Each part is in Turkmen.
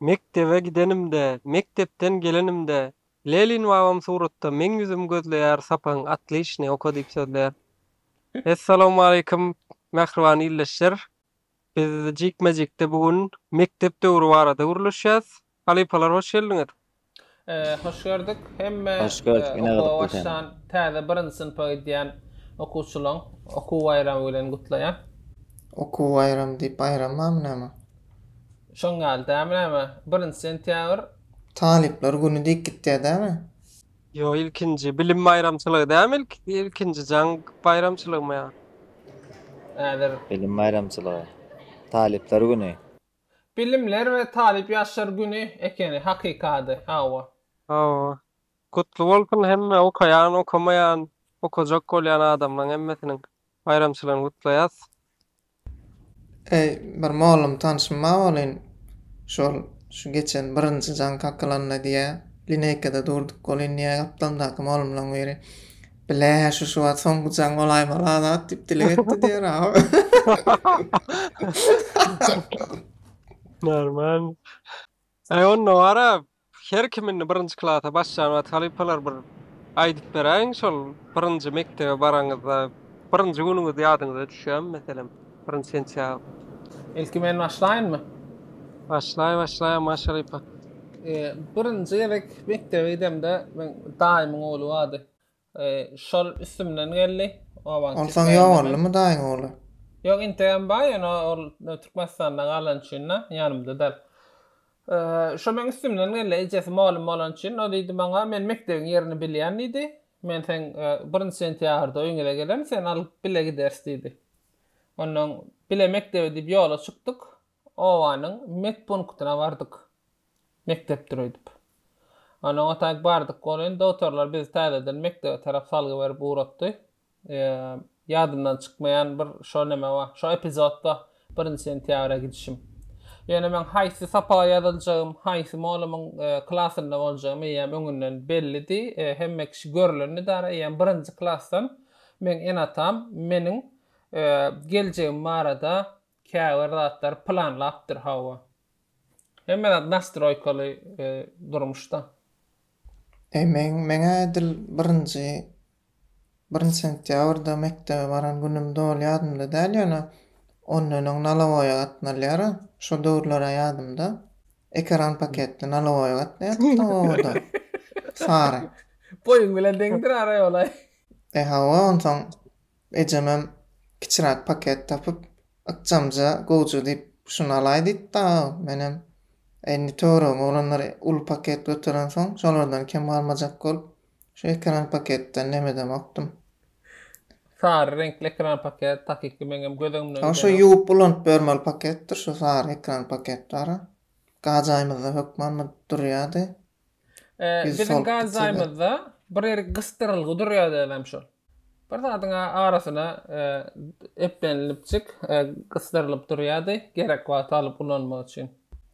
Mekdebe gidenimde, mekdepden gelenimde, Lelin babam suratda meň ýüzümi gözleýär, sapagyň atlyşyny oka diýip sözleýär. Essalawmaleýkim, mähriban ildeşler! Biz jikme-jikde bu gün mekdep döwri barada gürleşýäs. Halypalar hoş geldiňiz! Hoş gördük. Hemme okuwa başlan täze birinji synpa gidýän okuwçylaryň okuw baýramy bilen gutlaýan. Okuw baýramy diýip baýram barmy näme? Şoň ýaly dämi näme? Birinji sentýabr. Talyplar güni diýip gitýär dämi? Ýok ilkinji bilim baýramçylygy dämi ilkinji jaň baýramçylygmy ýa. Häzir. Bilim baýramçylygy. Talyplar güni. Bilimler we talyp ýaşlar güni ekeni hakykady hawa. Hawa. Gutly bolsun hemme okaýan okamaýan okajak bolýan adamlaň hemmesiniň baýramçylygyny gutlaýas. Eý bir mollum tanşym ba welin şol şu geçen birinji jaň kakylanda diýä lineýkada durduk welin diýä gapdalyndaky mollumlaň biri Bile, şu şu wagt soňky jaň bolaýmaly Azat diýip dileg etdi diýer aw. Normal. Aý onda wara her kim indi birinji klasa başlan wagt halypalar bir aýdyp beräýiň şol birinji mekdebe baraňyzda birinji günüňiz ýadyňyza düşýärmi meselem? Birinji sentýabr. Ilki men başlaýynmy? Başlaý başlaý Aman Şeripe. Birinji gezek mekdebe gidemde meň daýymyň ogly bardy. Şol üstümden geldi. Onsoň ýok boldumy daýyň ogly? Ýok integem bar ýöne ol Türkmenistanda galany üçin da ýanymda däl. Şo meň üstümden geldi ejesi mugallym bolany üçin o diýdi maňa men mekdebiň ýerini bilýän diýdi. Men seň birinji sentýabrda öýňüze gelem seni alyp bile gideris diýdi. Onnoň bile mekdebe diýip ýola çykdyk. Obanyň medpunktyna bardyk. Mekdepdir öýdüp. Onnoň otaýk bardyk. Welin, dogtorlar bizi täzeden mekdebe tarap salgy berip ugratdy. Ýadymdan çykmaýan bir şo neme bar, şo epizod bar, birinji sentýabra gidişim. Ýöne meň haýsy sapaga ýazyljagym, haýsy molamyň klasynda boljagym eýýäm öňünden bellidi. Hemme kişi görlendidara eýýäm birinji klasdan Meň ene-atam meniň geljegim barada käbir zatlary planlapdyr, hawa. Hemme zat nastroýkaly durmuşda. Eýmenn, Meň-ä edil birinji, birinji sentýabrda mekdebe baran günüm doly ýadymda däl, ýöne ondan öň nalowaýa gatnalýar-a. Şo döwürler-ä ýadymda. Ekeran paketli nalowaýa gatnaýardyk-da obada. Sary. Boýuň bilen deňdir ara ýol-aý. E hawa onsoň ejemem kiçiräk paket tapyp ykjamja gowja diýip şuny alaý diýip dagy menem e indi töweregime oglanlar uly paket göterensoň şolardan kem galmajak bolup şu ekran paketden nemedemokdym. Sary reňkli ekran paket takyky meňem göz öňümden gideni. Şu ýuwup ulanyp bermeli paketdir şu sary ekran paket bara. Gajaýymyzda hökman durýady. Biziň gaz zaýymyzda bir ýerik gysdyrylgy durýar dälem şol. Bir zadyň arasyna eplenilipjik gysdyrylyp durýardy, gerek wagty alyp ulanmak üçin.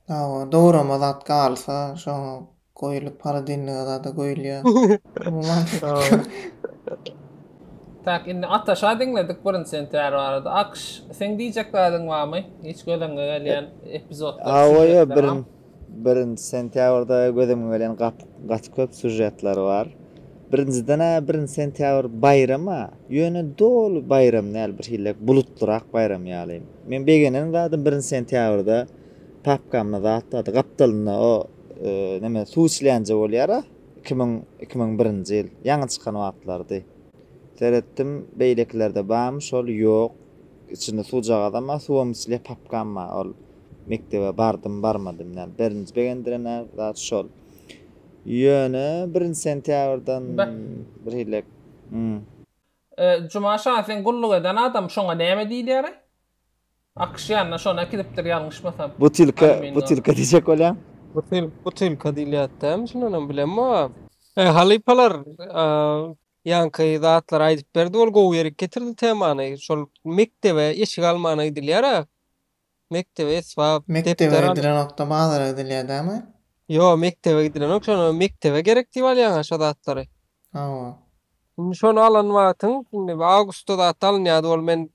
Hawa, dograma zat galsa, şoňa goýlup, holodilnige zada goýulýar. Tak, indi Ataşa diňledik birinji sentýar barada. Akş, seň diýjek zadyň barmy? Hiç gözüňe gelýän epizodlar, sýužetler? Hawa, ýa birinji Birinji sentýabrda göz öňüňe gelen gaty köp sýužetler bar. Birinjiden-ä birinji sentýabr baýram-a, ýöne doly baýram däl, bir hillek bulutlyrak baýram ýaly. Men begenen zadym birinji sentýabrda papkamda zat bardy, gapdalynda o neme suw içilýänje bolýar-a, iki müň, iki müň birinji ýyl, ýaňy çykan wagtlardy. Seretdim, beýlekilerde barmy şol, ýok. Içinde suwjagazam bar, suwam içilýär, papkam bar, ol. mekdebe bardym-barmadym däl. Birinji begendiren-ä zat şol. Ýöne birinji sentýabrdan birhili Hm. Juma şa, sen gulluk eden adam, şoňa näme diýilýär-eý? Akyş ýanyna şony äkidipdir ýalňyşmasam. Butilka, butilka diýjek bolýaň. Butilka diýilýärdi-dämi şundanam bilemok. Eý, halypalar, ýaňky zatlary aýdyp berdi, ol gowy ýerik getirdi temany. Şol mekdebe eşik almana gidilýär-ä. Mekdebe esbap, Mekdebe depder alyp. gidilenokda bazara gidilýär dämi? Ýok, mekdebe gidilenok, şonda mekdebe gerek diýip alýaňa şo zatlary. Hawa. Indi şony alan wagtyň, indi bir awgustda zat alynýardy ol men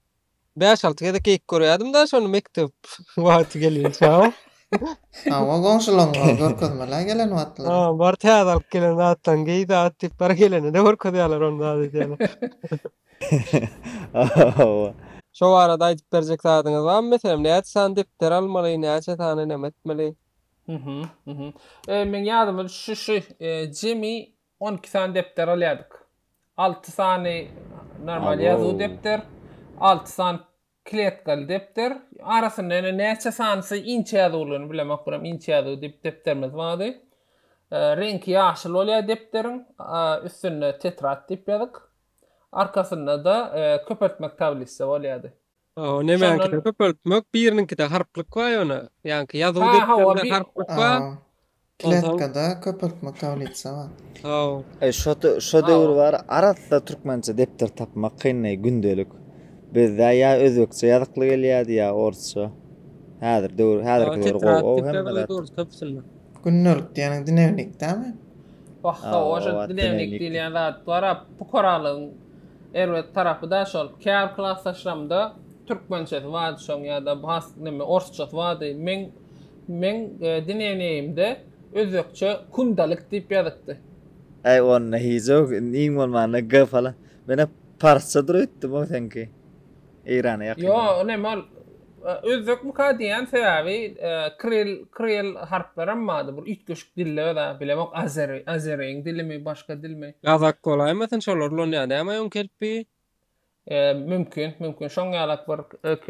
bäş-alty gezek geýip görýärdim-de şony mekdep wagty gelinçä. Hawa, goňşularyňa görkezmel-ä gelen wagtlary. Ha, bar täze alyp gelen zatlaryňy geý zat diýip bar gelende-de görkezýärler ony zat edýärler. Hawa. Şo barada aýdyp berjek zadyňyz barmy meselem näçe sany depder almaly näçe sany neme etmeli. Mhm mhm e meň ýadyma düşdi şu jemi on iki sany depder alýadyk alty sany normal ýazuw depder alty sany Kletkaly depder. Arasynda ýene näçe sanysy inçe ýazuwlyny bilemok, buram inçe ýazuw diýip depderimiz bardy. Reňki ýaşyl bolýar depderiň. Üstünde tetrad diýip ýazyk. Arkasynda-da köpeltmek tablisa bolýardy. Hawa, nemäňkide köpeltmek, biriniňkide harplyk bar ýöne. Ýaňky ýazuw depderinde harplyk bar. Kletkada köpeltme tablisa bar. Saw. Eý şo şo döwür bar arassa türkmençe depder tapmak kynday gündelik bizde ýa özbekçe ýazykly gelýädi ýa orsça häzir döwür häzirki döwür gowy ow hemme zat. Gündelik diýeniň dnewnikdämi? Bahha oje dnewnik diýilýän zat bara pukaralygyň erbet tarapy da şol kär klasdaşlamda türkmençesi bady şoň ýa da has neme orsçasy bady meň Meň dineneýimde özbekçe kundalik diýip ýazypdy. Äý onda hic-ok iň bolmanda G falan. Men-ä parsça dur öýtdüm-ow seňki. Eýrana ýakyn. Ýo, o neme ol. Özbekmika diýýän sebäbi kril, kril harplaram bardy bir üýtgeşik dilde öz-ä bilemok azeri, azeriň dilimi başga dilmi. Gazak bolaýmasyn şolar ulan ýa näme oň kelpi. Mümkin, mümkin şoň ýalak bir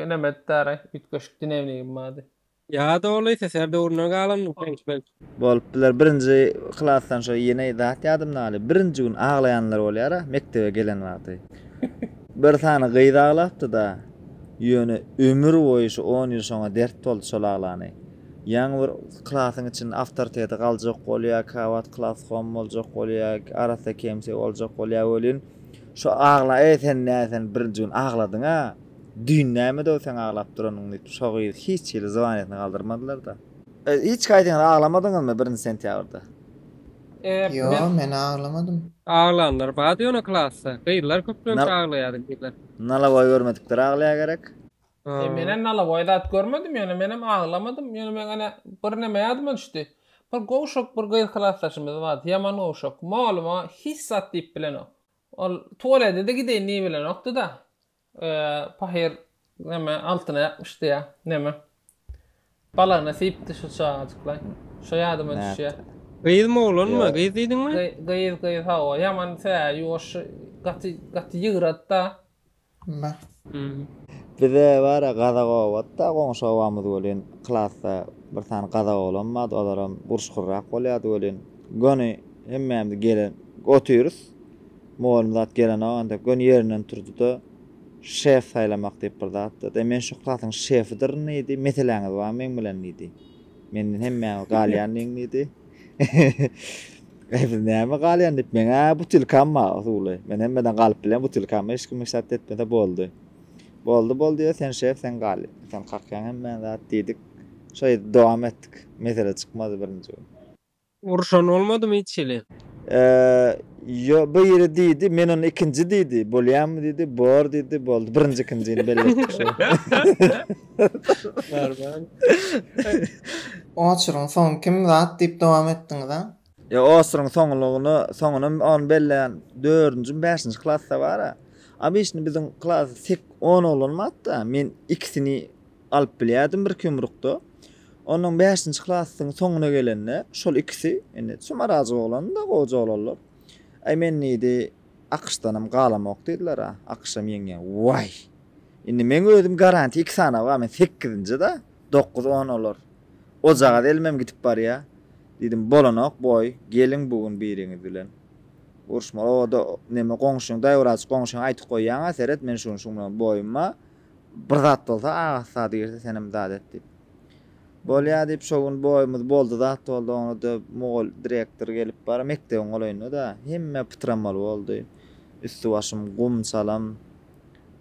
nemedi daraý üýtgeşik dinewnigim bardy. Ýa doly SSR döwründen galan reňk belki. Bolup biler birinji klasdan şo ýene zat ýadymdan galyp birinji gün aglaýanlar bolýara mekdebe gelen wagty bir sany gyz aglapdyda ýöne ömür boýy şu on ýyl şoňa dert boldy şol aglany ýaňy bir klasyň içinde awtoriteti galjak bolýa kabat klaskom boljak bolýa arassa kemsi boljak bolýa welin şo agla eý sen näsen birinji gün agladyňa. Düýn nämedow seň aglap duranyň diýip şo gyz hiç hili zywanyýetini galdyrmadylarda. Hiç gaýdyňyz aglamadyňyzmy birinji sentýabrda? Ýo men aglamadym. Aglanlar bar ýöne klasda. Gyzlar köplenç aglaýardy gyzlar. Nalaboý görmedikler aglaýa gerek. He menem nalaboý zat görmedim ýöne menem aglamadym ýöne meň ene bir neme ýadyma düşdi bir gowşak bir gyz klasdaşymyz bardy ýaman gowşak molumy hiç zat diýip bilenok ol tuwaledede gideýin diýibilenokdyda Pahyr neme altyna ýapyşdy ýa neme. Balagyna siýipdi şu çagajyklaý. Şo ýadyma düşýä. Gyzmy oglanmy? Gyz diýdiňmi? Gyz gyz hawa ýaman tä ýuwaş gaty gaty ýygrady-da. Bar. Bize bar-a gazak obat-da goňşy obamyz welin klasda bir sany gazak oglan bardy olaram gurşgurrak bolýardy welin göni hemmämiz gelen otyrys. Mugallym zat gelenok ancak göni yerinden turdyda şef saylamak diyip bir zat dedi. Men şu klasyň şefidirin diydi. Meseläňiz bar meň bilen diydi. Menden hemmäňiz galyan diýiň diydi. Biz näme galyan diyip men a butilkam bar suwly. Men hemmeden galyp bilen butilkam hiç kim işaret etmese boldy. Boldy boldy ya sen şef sen gal sen kakyan hemmän zat diydik. Şeýdip dowam etdik. Mesele çykmady birinji gün. Uruşan bolmadymy hiç hili? Ýo, biri diýdi, men ony ikinji diýdi. Bolýamy diýdi, bor diýdi, boldy. Birinji-ikinjini belli etdik şo. Barbar. Oçuryň soňy kim zat diýip dowam etdiňiz-ä? Ýo, oçuryň soňulygyny, soňuny ony belleýän dördünjimi, bäşinji klasda bar-a. Obyçny biziň klasda tek on oglan bardy-da, men ikisini alyp bilýärdim birki ýumrukda. Ondan bäşinji klasyň soňuna gelende şol ikisi, indi çymarajyk oglandy-da, goja oglanlar. Aý, men diýdi, AQŞdanam galamok diýdiler-ä. AQŞam ýeňýär. Waý! Indi meň özüm garantiýa iki sany bar, men sekizinji-dä, dokuz-on olar. Ojagaz elimem gidip barýar. Diýdim, bolanok, boý, geliň bu gün biriňiz bilen. Uruşmaly, o-da neme, goňşyň, daýwrajyk goňşyňa aýtyp goýýaň-a, seret, men şu gün şuň bilen boýum bar. Bir zat bolsa, Agasy zady girse senem zat et diýip. Bolýa diýip, şo gün boýumyz boldy zat boldy, oňa-da mugall, direktor gelip bar, mekdebiň golaýynda-da. Hemme pytramaly boldy. Üsti-başym gum, salam.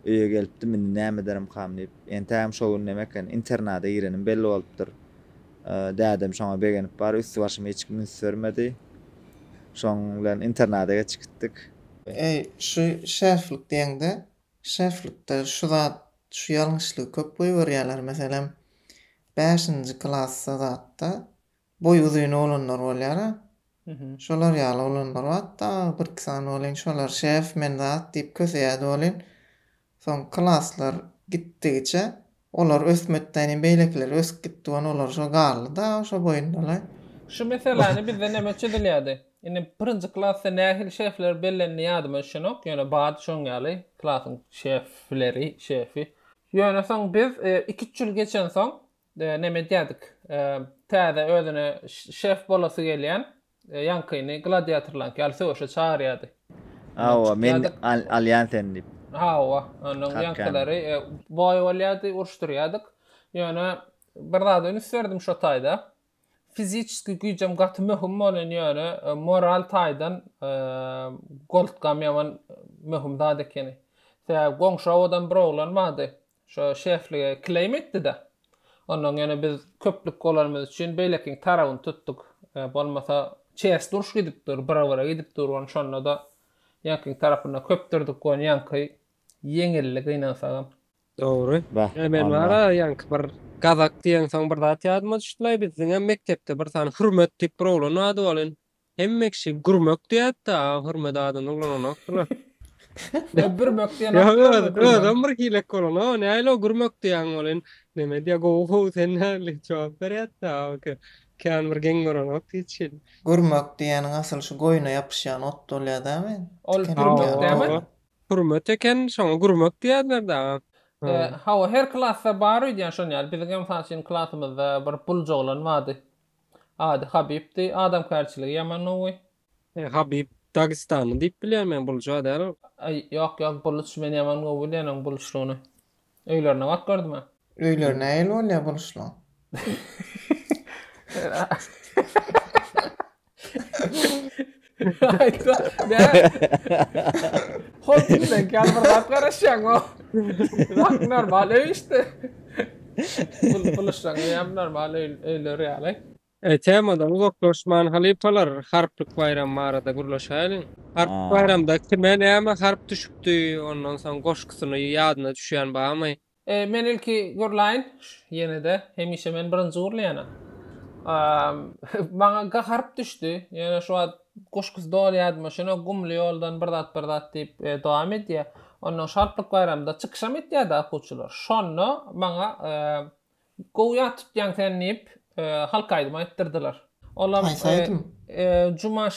Öýe gelipdim, indi näme ederimkam diýip. Entägem şo gün näme eken, internada girenim belli bolupdyr. Dädem şoňa begenip bar, üsti-başyma hiç kim üns bermedi. Şoň bilen internada geçip gitdik. Eý, şu şeriflik diýeňde, Şeflikde şu zat, şu ýalňyşlygy köp goýberýärler, meselem, bäşinji klasda zatda boýy uzyn oglanlar bolýar-a, şolar ýaly oglanlar bat-da, birki sany welin, şolar, Şef, men zat diýip köseýärdi welin, soň klaslar gitdigiçe, Olar ösmekdäni beýlekiler ösüp gitdi wan olar şo galdy da şo boýundalaý. Şu meseläni bizde näme üçin edilýärdi? Indi birinji klasda nähili şefler bellendi ýadyma düşenok, ýöne bardy şoň ýaly klasyň şefleri, şefi. Ýöne soň biz iki üç ýyl geçensoň näme edýärdik, täze özüne şef bolasy gelýän E, ýaňkyny gladiatorlaňky ýaly söweşe çagyrýardy. Hawa, men alýan seni diýip. Hawa, onuň ýaňkylary e, boý bolýardy, uruşdyrýardyk. Ýöne bir zada üns berdim şo taýda. Fiziki güýjem gaty möhüm bolan ýöne e, moral taýdan e, goltkam ýaman möhüm zat ekeni. Sebäbi goňşy owadan bir oglan bardy. Şo şeflige kileýim etdi-de. Onnoň ýöne biz köplük bolanymyz üçin beýlekiniň tarabyny tutduk. Bolmasa çers duruş gidip dur, bira-bira gidip dur ony şonda-da ýaňkyň tarapynda köpdürdik ony ýaňky ýeňildi gynansagam. Dogry. Ýöne men bar-a ýaňky bir Gazak diýeňsoň bir zat ýadyma düşdilaý biz diňe mekdepde bir sany Hürmet diýip bir oglan bar-dy welin Hemme kişi gurmek diýýätdä hürmet adyny ulananokdylar. Ýa bürmek diýen Ýa atlar öz bar. özem bir hilek bolan o näli o gurmek diýýäň ol in neme diýýä gowy how sen näli jogap berýätdä oke kän bir geň görenok hiç hili. Gurmek diýýäniň asyl şu goýna ýapyşýan ot bolýa dämi Ol tiken gurmek ýaly dämi? hawa bolýa. Hürmet eken şoňa gurmek diýýärler dä ha. E hawa her klasda bar öýdýän şon ýaly biziňem mysal üçin klasymyzda bir buljy oglan bardy Ady Habibdi, adamkärçiligi ýaman gowy. E Habib Dagistanly diýip bilýän men Buluja däl. Ýok ýok Buluç men ýaman gowy bilýän oň Buluçlygyny. Öýlerine baryp gördüm a. Öýleri nähili bolýa Buluçlyň? Aýtma. Hop, sen kalbyr zat garaşýaň o. Zat normal öý işte. Bul buluşsaň hem normal öý öýler ýaly. E, temadan uzaklaşman halypalar, harplyk baýram barada gürleşäýeliň. Harplyk Aa. baýramda kime näme harp düşüpdi, ondan soň goşgusyny ýadyna düşýän barmy? Men ilki gürläýin ýene-de. Hemişe men birinji gürleýänem. Maňa gaharyp düşdi. Ýöne şu wagt goşgusy doly ýadyma şonok Gumly ýoldan bir zat bir zat diýip dowam edýär. Onnoň Şatlyk baýramda çykyşam etýärdi akuwçylar. Şonda maňa Gowy ýat tutýaň sen diýip halk aýdymy aýtdyrdylar. Olam Jumaş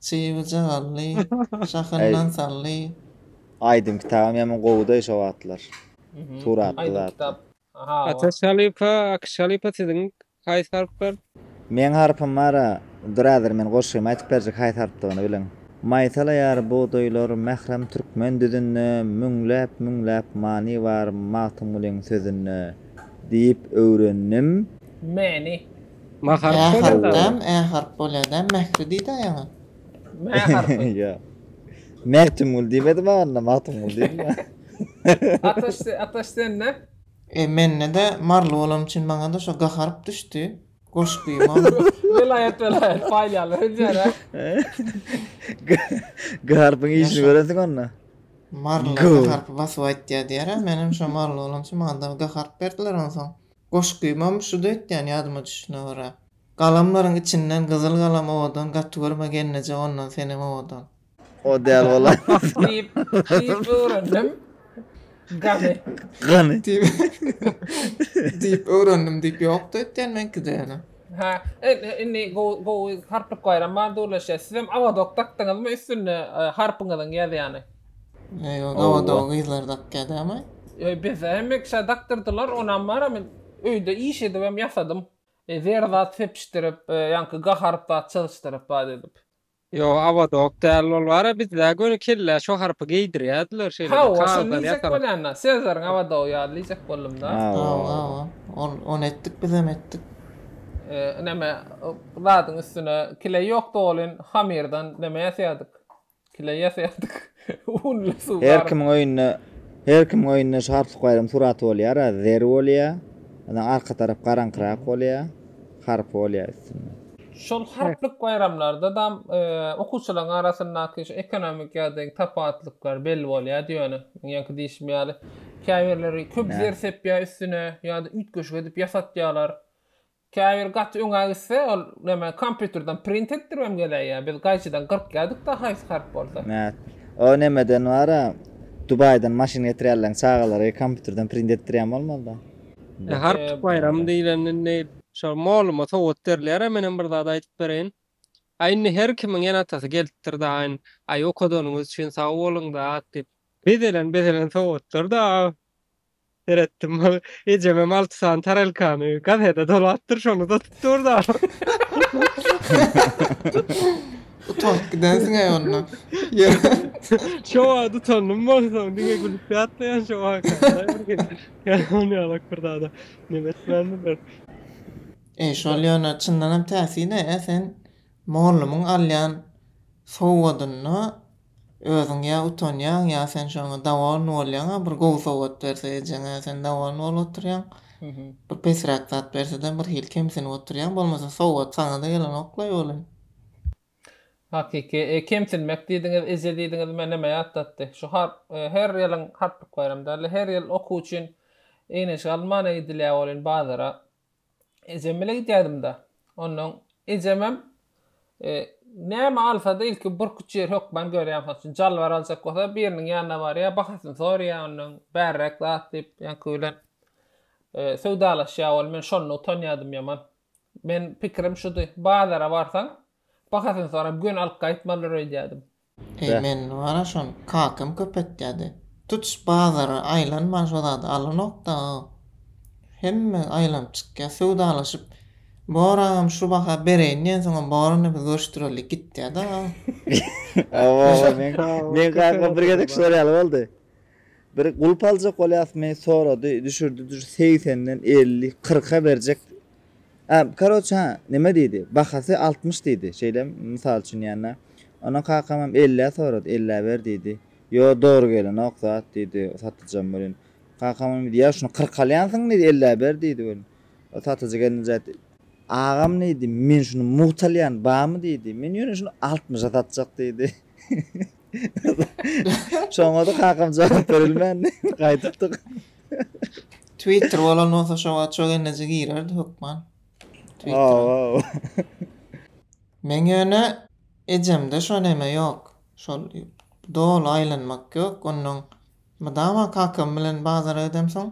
Çyby jagally, şahyndan sally. Aýdym kitabam ýaman gowydaý şo wagtlar. Suratly zatda. Ataş halypa, Akyş halypa siziň haýsy harplar? Meň harpym bara birader men goşgymy aýtyp berjek haýsy harpdygyny bileň. Maýsalaýar bugdaýlar mährem türkmen düzünde Müňläp müňläp many bar Magtymgulyň sözünde diýip öwrendim. Many Mä harp bolýar da. Ä harp, ä harp bolýar da. Mähri diýdi ýaňy. Mä harpy. Ýa. Mähtimgül diýmedi maňa onda, Magtymgul diýdi. Ataş, Ataş sende? E, mende-de maryly bolanym üçin maňa-da şo ga harp düşdi. Goşgy mol. Welaýat, welaýat paýlaýarlar öýdýär-ä. Ga harpyň işini görensiň onda. Marylylar ga harpy basyp aýtýar diýýär-ä. Menem şo maryly bolanym üçin maňa-da ga harp berdiler onsoň. Goşgymam şu döýt diýýän ýadyma düşdüne görä. Galamlaryň içinden gyzyl galam owadan gaty görme gelneje ondan senem owadan. O däl bolaýmasyn. Diýip diýip öwrendim gany. Gany. Diýip diýip öwrendim diýip ýok döýt diýýän meňkide ýöne. Hä indi gowy gowy harplyk baýram bar dürleşýär sizem awazok dakdyňyzmy üstünde harpyňyzyň ýazýany. Ýo gawa doga gyzlar dakýa dämi? Ýo bize hem ekşä dakdyrdylar onam bar men öýde iş edibem ýasadym. Zer zat sepişdirip ýaňky gaharyp zat çyzyşdyryp bat edip. Ýo awodok däl ol bara bizde göni kellä şo harpy geýdirýädiler şeýle bir kagazdan ýasalyp. Hawa şony diýjek bolýanda sezleriň awadogy ýaly diýjek boldumda. Hawa hawa ol ony etdik bizem etdik. Neme zadyň üstüne kile ýok dolin hamirden neme ýasýadyk. Kileýä serdik. Unly suw garyp. Her kimiň öýünde Her kimiň öýünde Şahat Sukaýewiň suraty bolýara zer bolýa. Ondan arka tarap garaňkyrak bolýa. Harpy bolýa üstünde. Şol harplyk baýramlarda dam okuwçylaryň arasyndaky şu ekonomik ýagdaýyň tapawutlyklar belli bolýardy ýöne. Meň ýaňky diýşim ýaly käbirleri köp zer sepýä üstüne ýa-da üýtgeşik edip ýasatýalar. Käbiri gaty öňe gitse ol neme kompýuterden print etdiribem geläýýär. Biz gaýçydan gyrkýardyk-da haýsy harp bolsa. Mät, o nemeden bar-a, Dubaýdan maşyn getirýärleň çagalary kompýuterden print etdirýän bolmalyda. Harp baýramy diýlen indi şo molluma sowgat berilýär-ä menem bir zat aýdyp bereýin. Aý indi her kimiň ene-atasy gelipdir-dä aýn, aý okadanyňyz üçin sag boluň-da diýip. Bezelen-bezelen sowgatdyr-da. Seretdim. Ejem hem alty sany tarelkany gazete dolapdyr, şony satyp dur-da. Utanyp gidensiň äý onda. Şo wagt utandym bolsam, diňe gülüp ýatlaýan şo wagt. Ýalan ýalak bir zada neme etmändirler. Eý, şol ýöne çyndanam täsine-ä sen mollumyň alýan sowgadynda Özüň ýa utanýaň, ýa sen şoňa dowolny bolýaň-a, bir gowy sowgat berse ejeň-ä, sen dowolny bolup oturýaň. Bir pesräk zat berse-de birhili kemsinip oturýaň, bolmasa sowgat saňa-da gelenok-laý welin. Hakyky, kemsinmek diýdiňiz, eje diýdiňiz meni näme ýatlatdy? Şu her ýylyň Harplyk baýramy däl-de, her ýyl okuw üçin egin-eşik alynmana gidilýär welin bazara. Ejem bile gidýädim-da. Onnoň ejemem näme alsa-da ilki burkuç ýer hökman görýär. Mysal üçin, jalbar aljak bolsa biriniň ýanyna barýar, bahasyny soraýar ondan, bärräk zat diýip, ýaňky bilen söwdalaşýar ol. Men şonda utanýardym ýaman. Men pikirim şudy, bazara barsaň, bahasyny sorap göni alyp gaýtmalydyr öýdýärdim. Eý men wara şon kakam köpetýädi. Tutuş bazary aýlanman şo zady alanokda. Hemme aýlanyp çykýa, söwdalaşyp boragam şu baha bereýin diýensoňam borany biz görüşdireli gitýäda. Oba oba men kaka bir gezek şol ýaly boldy. Bir gulp aljak bolýasmy, sorady, düşürdi, düş, segsenden elli, kyrka berjek. Ä, karoç, hä, näme diýdi, bahasy altmyş diýdi, şeýlemi, mysal üçin diýende. Ondan kakamam ellä sorady, ellä ber diýdi. Ýo, dogry gelenok zat, diýdi satyjam welin. Kakamam diýdi, ýa şuny kyrka alýansyň diýdi, ellä ber diýdi welin. Ol satyjy gelinje aýtdy. Agam diýdi, men şuny mugt alýan, barmy diýdi. Men ýöne şuny altmyşa satjak diýdi. Şoňa-da kakam jogap berilmändi. Gaýdypdyk. Twitter bolan bolsa şo wagt şo gelince girerdi hökman. Twitter'a. Men ýöne ejemde şo neme ýok. Şol doly aýlanmak ýok. Ondan mydama kakam bilen bazara gidemsoň,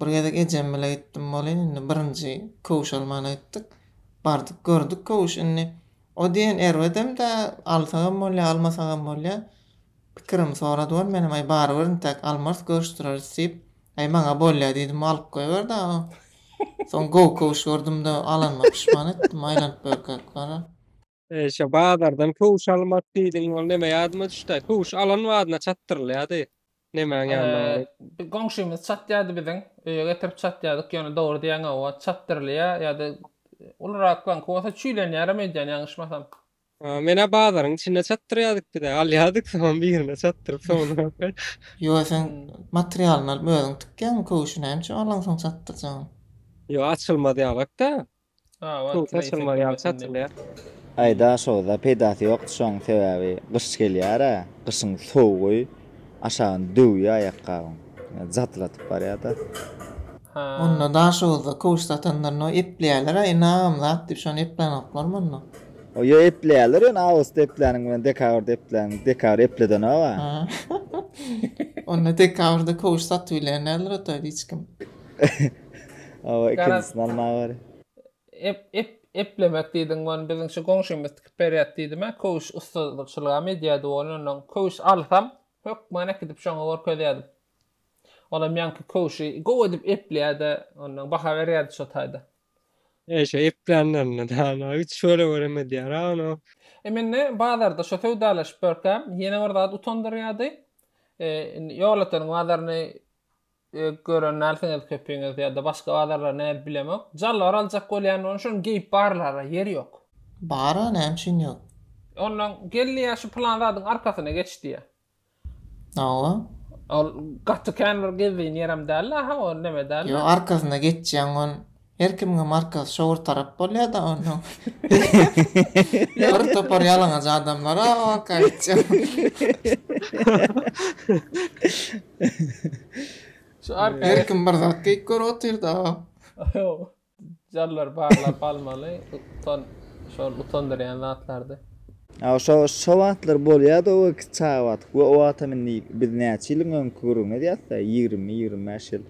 bir gezek ejem bilen gitdim welin, indi birinji köwüş almana gitdik. Bardyk, gördük köwüş. Indi O diýen erbedem-dä, alsagam bolýar, almasagam bolýar. Pikirimi sorady ol, menem, Aý, barybir intäk almarys, görüşdireris diýip, Aý, maňa bolýar diýdim, alyp goýber dagy. Soň gowy köwüş gördüm-de, alanyma puşman etdim, aýlanyp börkäk bara. Şo bazardan köwüş almarys diýdiň, ol neme ýadyma düşdi-aý, köwüş alan badyna çatdyrylýardy. Nemäň ýanynda bary? Bir goňşymyz çatýardy biziň. Öýe getirip çatýardyk, ýöne dogry diýýäň hawa, çatdyrylýar ýa-da uluraklaňky bolsa çüýlenýärem öýdýän ýalňyşmasam. Menä bazaryň içinde çatdyrýardyk biz-ä, alýardyk soňam birine çatdyryp soňundanky. Ýöne sen materialyny alyp özüň tikýäňmi köwşi näme üçin alaňsoň çatdyrjagyň? Ýok açylmaz ýalak-da. Suw saçylmaz ýaly saçylýar. Aý daşoda peýdasy ýokdy şoň sebäbi gyş gelýärä gyşyň sowugy aşagyny döwýä aýakgabyň jadylatyp barýada. Onda daşoda köwüş satanlarynda epleýälerä ynam zat diýip şony eplän oklarmy onda. Ýo epleýäler ýöne awgustda epläniň bilen dekabrda epläniň dekabr epledenoga. Onda dekabrda köwüş satybilýän däldir otaýda hiç kim. Awa ikinjisini almaga bari. Ep ep eplemek diýdiň ony biziň şu goňşymyz tikip berýät diýdimä köwüş ussatçylygam edýädi ony onnoň köwüş alsam hökman äkidip şoňa görkezýädim. Olam ýaňky köwşi gowy edip epleýärdi onnoň baha berýärdi şo taýda. E şo eplänlerinde dana üç bölek örem edýära ony. E mende bazarda şo söwdalaşyp ýörkäm ýene bir zat utandyrýardy. E indi ýolöteniň bazaryny Gören dälsiňiz köpiňiz ýa-da başga bazarlar nädip bilemok. Jalbar aljak bolýan bolsa şony geýip barlara ýer ýok. Bara näme üçin ýok. Ondan gel diýýä şu pylan zadyň arkasyna geç diýýä. Hawa. Ol gaty kän bir gezdirin ýerem däldi aha o neme däldi. Ýok arkasyna geçýäň on Her kimiňe markasy şowur tarap bolýada onuň. Bir topar ýalaňaç adamlar a orka gitjek. Şu arka Her kim bir zat geýip görüp otyrda. Jarlar barlap almaly. Utan şol utandyrýan zatlardy. A şo şo wagtlar bolýada o çaga wagty. We o wagtam indi biz näçe ýylyň öňki gürrüňi edýäsda ýigrimi ýigrimi bäş ýyl.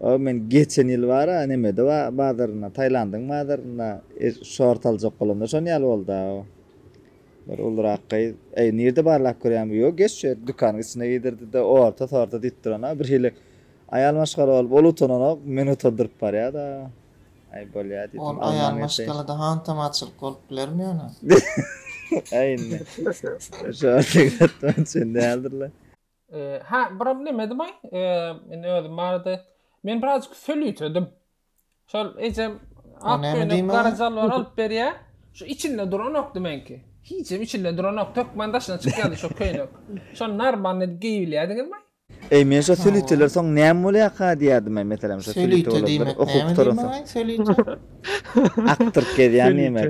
Ooo men geçen ýyl bara nemede ba bazarynda Tailandyň bazarynda şort aljak bolamda şon ýaly bolda o bir ulurak gyz eý nirde barlap görýäň bu ýok geç şu ýerde dükanyň içinde giýdirdide orta sorta diýip durana birhili aýal maşgala bolup ol utananok meni utandyryp barýada aý bolýa diýdim Ol aýal maşgalada hantam açylyk bolup bilermi ýöne. Aý indi şorta gidatman çyn däldirle. Hä, biram näme edimay? Men özüm barada men birazjyk sölütedim. Şol ejem ak köýnek gara jalbar alyp berýär. Şu içinde duranokdy menki. Hiçem içinde duranok, tökmen daşyna çykýardy şu köýnek. Şony narmanly edip geýibilýärdiňizmi? Eý, men şo sölüteler soň näme bolýarka diýerdim-aý, meselem şo sölüte bolupdyr, okup oturansoň. Sölüte diýmek näme diýmek-aý, sölüte? Akdyryp gezýän diýmek.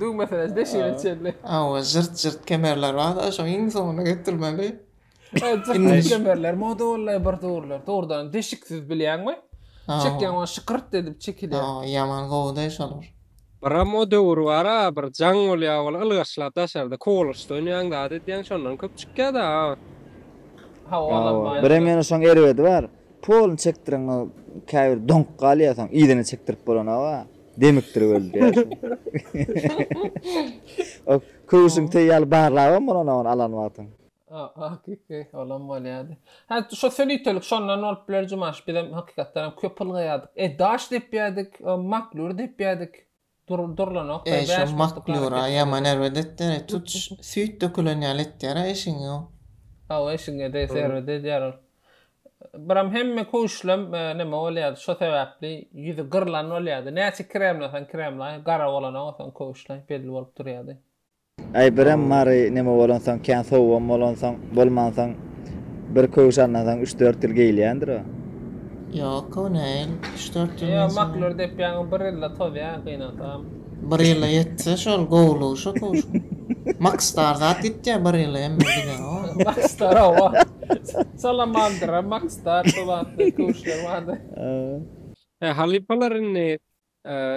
Düw meselesi de şeýle çenli. Hawa, jyrt jyrt kemerler bar-da, şoň iň soňuna getirmeli. Jyrt kemerler moda boldy bir döwürler. Dogrudanam deşiksiz bilýäňmi? Çekýäň ony şykyrt edip çekilýär. Hawa, ýaman gowy-da şolar. Biram o döwür bar-a, bir jaň bolýar wala ylgaşlap daşarda kowalgaçda oýnaýaň zat edýäň şondan köp çykýar-da. Hawa, onam bar. Birem ýene şoň erbedi bar. Polny çekdireňok, käbir doňup galýar soň yzyna çekdirip bolana-a. Demikdirip öldi O köwşüň teý ýaly barlabam bolan ony alan wagtyň. Hakyky olam bolýady. Hä şo sönitelik şondan bolup biler Jumaş bizem hakykatdan hem köp ylgaýardyk. E daş depýädik, maklýur depýädik. Dur durlanok. E şo maklýura ýaman erbet etýär. Tut süýt dökülen ýaly etýär eşigiňi o. Hawa eşigiňe degse erbet edýär ol. Biram hemme köwüşlem neme bolýardy, şo sebäpli ýüzi gyrlan bolýardy. Näçe kremlasaň kremlaý, gara bolanaga soň köwüşleň belli bolup durýardy. Aý, Biram Mary neme bolansoň, kän sowugam bolansoň, bolmansoň, bir köwüş alnasaň üç-dört ýyl geýilýändir o. Ýok, o näl, üç-dört ýyl Ýa, maklur depýäňiz, bir ýylda tozýar, gynansagam. Bir ýyla ýetse, şol gowulygy şo köwüşiň. Maksdar zat ýitýär, bir ýyla hemme gider, o. Maksdar, hawa. Salamandra, Makstar, şol atly köwüşler bardy. He, halypalar indi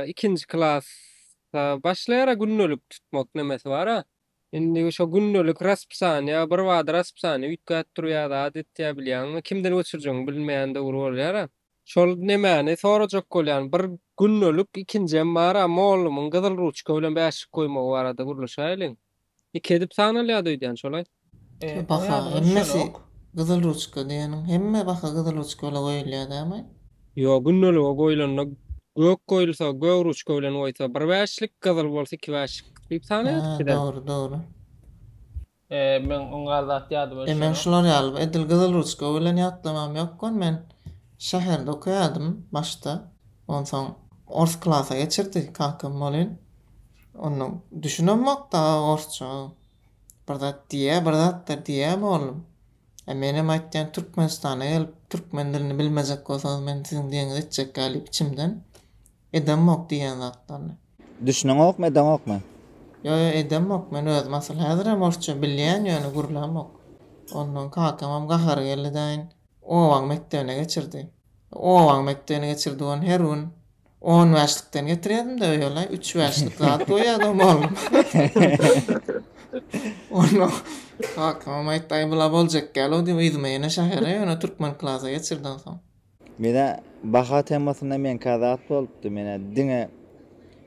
ikinji klasda başlaýar-a gündelik tutmak nemesi bar-a. Indi şo gündelik raspisaniýa, birbada raspisaniýa üýtgäp durýar-da, adet ýa bilýäňmi, kimden göçürjegiňi bilmeýän döwür bolýar-a. Şol nemäni sorajak bolýan, bir gündelik ikinjem bar-a, mollumyň gyzyl ruçka bilen bäşlik goýmagy barada gürleşäýeliň. Iki edip sanalýady öýdýän şolaý. Şu baha hemmesi gyzyl ruçka diýeniň hemme baha gyzyl ruçka bilen goýulýar dämi? Ýok gündelige goýlanda gök goýulsa gök ruçka bilen goýsa bir bäşlik gyzyl bolsa iki bäşlik diýip sanaýardyk bizem. Hä dogry dogry. Eee meň oň gal zat ýadym öçenok. Meň şular ýaly edil gyzyl ruçka bilen ýatlamam ýokgun men şäherde okaýadym başda onsoň ors klasa geçirdi kakam bolyn Onda düşünemok dagy orsça bir zat diýýä bir zatlar diýýä boldum. E menem aýtýan Türkmenistana gelip türkmen dilini bilmejek bolsaňyz men siziň deňiz etjekkä diýip içimden edemok diýýän zatlaryny. Düşüneňokmy edeňokmy? Ýo ýo edemok men özüm asyl häzirem orsça bilýän ýöne gürlämok. Ondan kakamam gahary geldi daýyn obaň mekdebine geçirdi. Obaň mekdebine geçirdi ony her gün. On bäşlikden getirýädim-de öýe-laý, üç bäşlik zat goýýardym ogluma. Kakamam aýtdy, Aý, bula boljak däl-ow diýip, yzyma ýene şähere, ýöne türkmen klasa geçirden soň. Menä baha temasynda meňkä zat bolupdy. Menä diňe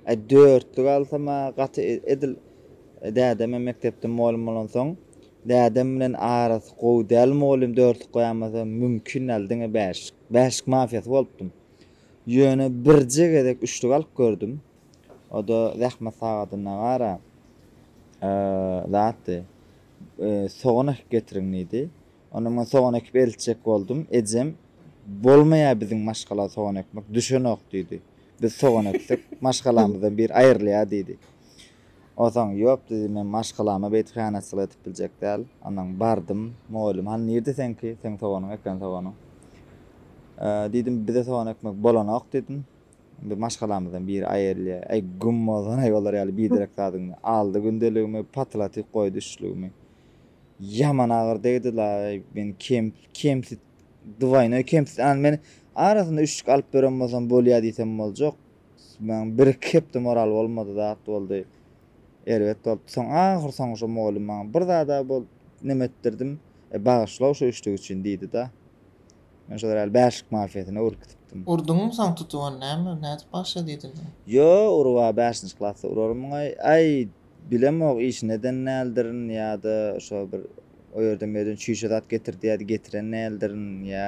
Aý, dörtlük alsam-a gaty edil. Dädem-ä mekdepde mugallym bolansoň, dädem bilen arasy gowy däl mugallym dörtlük goýamasa mümkin däl, diňe bäşlik. Bäşlik mafiýasy bolupdym. Ýöne birje gezek üçlük alyp gördüm. O-da zähmet sagadyna gara zatdy. Sogan ekip getiriň diýdi. Onda men sogan ekip eltjek boldum. Ejem, Bolmaýar biziň maşgala sogan ekmek, düşenok diýdi. Biz sogan eksek, maşgalamyzdan biri aýrylýar diýdi. Onsoň, Ýok, diýdim, men maşgalama beýdip hyýanatçylyk edip biljek däl. Onsoň bardym. Mugallym, Hany, nirde seňki? Seň soganyň eken soganyň. Diýdim, Bize sogan ekmek bolanok, diýdim. Indi maşgalamyzdan biri aýrylýar. Äý, güm bolsun-aý olar ýaly biderek zadyňdan. Aldy gündeligimi, patlatyp goýdy üçlügimi. Ýaman agyr degdi-laý, men kem-kemsiz, dwaýnoý kemsiz. Än men arasynda üçlük alyp beren bolsam bolýar diýsem boljak. Maň bir-iki hepde moral bolmady zat boldy. Erbet bolupdy. Soň ahyrsoňy şo mugallym maňa bir zada bolup neme etdirdim. E, bagyşla-ow şo üçlük üçin diýdi-da. Men şolar ýaly bäşlik mafiýasyna öwrülip gidipdim. Urduňmy soň tutup ony? Näme, nädip bagyşla diýdin soň? Ýo, urup-a bäşinji klasda urarmyň-aý? Aý! Bilemok işini eden däldirin ýa-da şo bir o ýerden bu ýerden çüýşe zat getir diýýärdi getiren däldirin ýa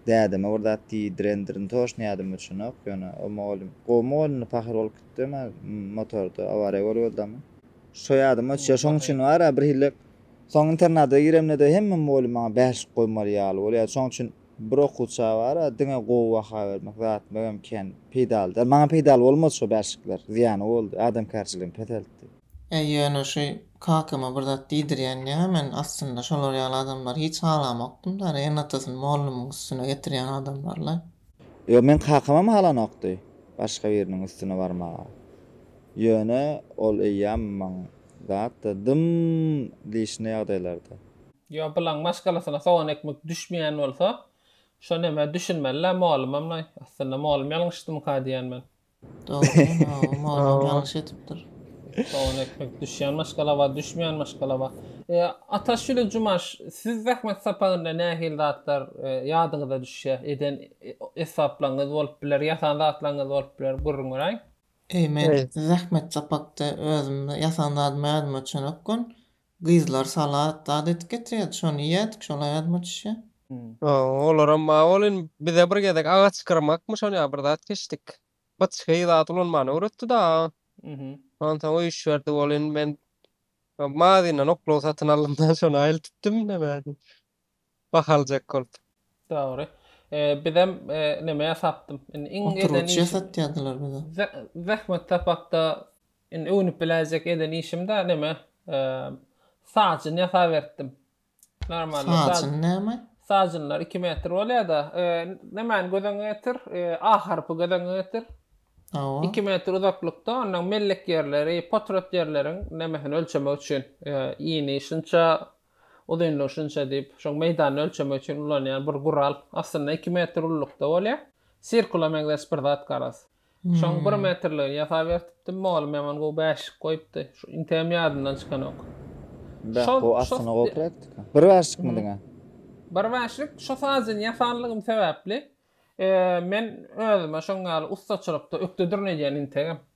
dädeme bir zat diýdirendirin toşny ýadyma çynok ýöne o mugallym gowy mugallymdy pahyr bolup gitdi emma motorda awariýa bolup öldümi şo ýadyma düşýär şoň üçin bar-a birhili soň internada giremde-de hemme mugallym maňa bäşlik goýmaly ýaly bolýardy şoň üçin Bir okuwça bara diňe gowy baha bermek zat möhüm kän peýdaly däl. Maňa peýdaly bolmady şo bärşikler. Zyýany boldy. Adamkärçiligimi peseltdi. Äý ýöne şu kakama bir zat diýdirýän ýa men aslynda şolar ýaly adamlary hiç halamokdym däl ene atasyny mollumyň üstüne getirýän adamlarlaý. Ýok meň kakamam halanokdy başga biriniň üstüne barmaga. Ýöne ol eýýäm maň zatda dym diýşine ýagdaýlarda. Ýa bulaň maşgalasyna sogan ekmek düşmeýän bolsa, şo nämä düşünmelilä molumamlaý. Aslynda molum ýalňyşdymyka diýýän men. Dogry mawy molum ýalňyş etipdir. Sogan ekmek düşýän maşgala bar, düşmeýän maşgala bar. E, Ataş Jüle Jumaş, siz zähmet sapagynda nähili zatlar e, ýadyňyza düşýär? Eden e, esbaplaryňyz bolup biler, ýasan zatlaryňyz bolup biler, gürrüň beräýiň. Eý, men zähmet sapakda özümde ýasan zadyma ýadyma çönekgün. Gyzlar salat zat edip getirýärdi, şony iýerdik, şolaý azmyçja. Olaram bar welin, bize bir gezek agaç gyrmakmy şonýa bir zat geçdik. Gyç heý zat ulanmany öwretdi-da. Onsoň öýüşiberdi welin, men mazyýyndan oklaw satyn aldym-da, şony aýyltypdym, näme edip. Bah aljak bolup. Dogry. Bizem nemä sapdym. Indi iň eden işim. Oturgyç ýasatýadylar bize. Zähmet sapakda indi öwnüp biläýjek eden işim da neme sajyn ýasaberipdim. Normalny sajyn. Sajyn näme? Sajynlar iki metr bolýa da. Nemäni göz öňüňe getir. A harpy göz öňüňe getir. Hawa. Iki metr uzaklykda ondan mellek ýerleri, potrat ýerleriň nemesini ölçemek üçin. Ýyny şunça Uzynlygy şunça diýip, şol meýdany ölçemek üçin ulanýan bir gural. Aslynda iki metr ululykda bolýar. Sirkula meňzeş bir zat garaz. Şoň bir metrligini ýasap ertipdim. Mugallym ýaman gowy bäşlik goýupdy. Şu integem ýadymdan çykanok. Beh, bu aslynda gowy praktika. Bir bäşlikmi diňe? Bir bäşlik. Şu sazyny ýasanlygym sebäpli, men özüme şoň ýaly ussaçylykda ökde durun edýän integem.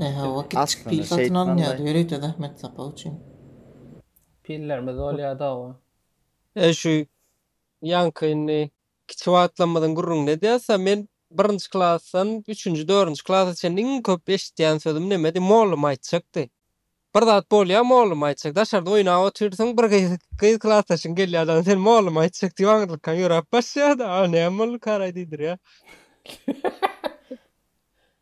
Hawa, kiçijik pil satyn alynýardy, ýörite zähmet sapagy üçin. Pillerimiz bolýardy-ow. E, şu ýaňky indi kiçi wagtlarymyzyň gürrüňini edýäs-ä, men birinji klasdan üçünji, dördünji klasa çenli iň köp eşitýän sözüm nemedi? Mollum aýtjakdy. Bir zat bolýa mollum aýtjak daşarda oýnap otyrsyň bir gyz gyz klasdaşyň gelýä da sen mollum aýtjak diýip aňyrlykaň ýöräp başlaýada a näme boldy karaý diýdirýä.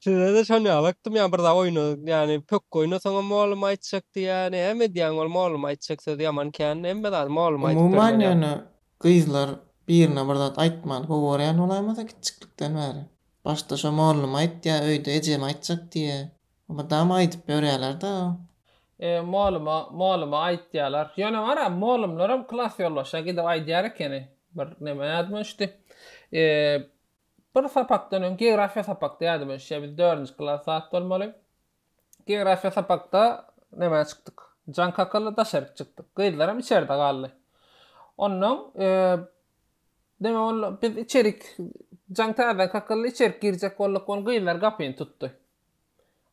Sizede şon ýaly aktym ýa bir zat oýna ýani pökgi oýnasaňam mollum aýtjak diýýä näme edýäň ol mollum aýtjak sözi ýaman kän hemme zady mollum aýdyp bermeli. Umuman ýöne gyzlar birine bir zat aýtmany gowy görýän bolaýmasa kiçjiklikden bäri. Başda şo mollum aýt ýa öýde ejem aýtjak diýýä. Mydama aýdyp ýörýäler da. E, molyma, molyma aýtýalar. Ýöne wara, molymlaram klas ýolbaşa gidip aýdýar ekeni. Bir neme ýadyma düşdi. E, bir sapakdan öň, geografiýa sapakda ýadyma düşýär, biz dördünji klas zat bolmaly. Geografiýa sapakda nämä çykdyk? Jan kakala daşaryk çykdyk. Gyzlaram içerde galdy. Ondan, e, neme boldy? Biz içerik, Jan täzeden kakala içerik girjek bolduk, ol gyzlar gapyny tutdy.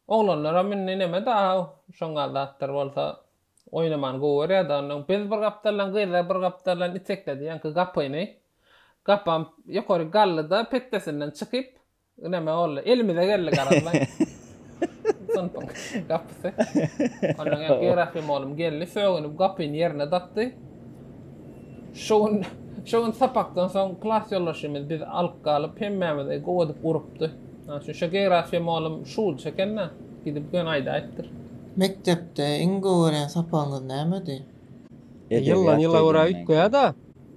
Oglanlaram indi neme daha şoňňal zatlar bolsa oýnamany gowy görýärdi onnoň biz bir gapdaldan gyzlar bir gapdaldan itekledi ýaňky gapyny gapam ýokary galdyda petdesinden çykyp neme boldy elimize geldi garamlaý synpyň gapysy onnoň ýaňky ýerahym oglum geldi sögünip gapyny ýerine dakdy şo gün şo gün sapakdan soň klas ýoldaşymyz bizi alyp galyp hemmämizi gowadyp urupdy Şu şu geografiýa molum şul çekenne gidip gön aýdaýypdyr. Mekdepde iň gowy gören sapagyňyz nämedi? Ýyldan ýyla görä üýtgeýäda.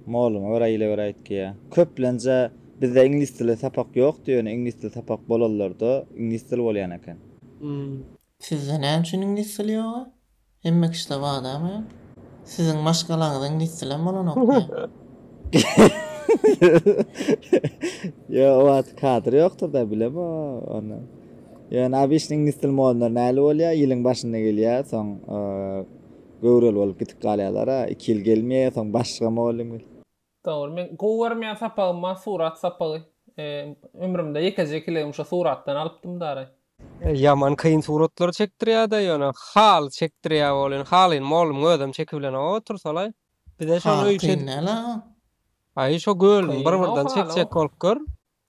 Moluma görä ýyla görä üýtgeýä. Köplenje bizde iňlis dili sapak ýokdy ýöne iňlis dili sapak bolanlarda iňlis dili bolýan eken. Sizde näme üçin iňlis dili ýoga? Hemme kişide badama ýok. Siziň maşgalaňyzda iňlis dilem bolanokmy? Ýo o wagt kadr ýokdurda bilem o ony. Ýöne abyşn iňlis dil mollary näli bolýa ýylyň başynda gelýä soň göwreli bolup gitip galýalara iki ýyl gelmeýä soň başga mollym. Dogry men gowy görmeýän sapagymma surat sapagy ömrümde ýekeje kilegim şo suratdan alypdym daraý. Ýaman kyn suratlar çekdirýäda ýöne haly çekdirýä bolyn halyn molum özem çekibilenok otursalaý bize şony öýüt edip. Haly kyn däl a. Aý şo gölüni bir birden çekjek bolup gör.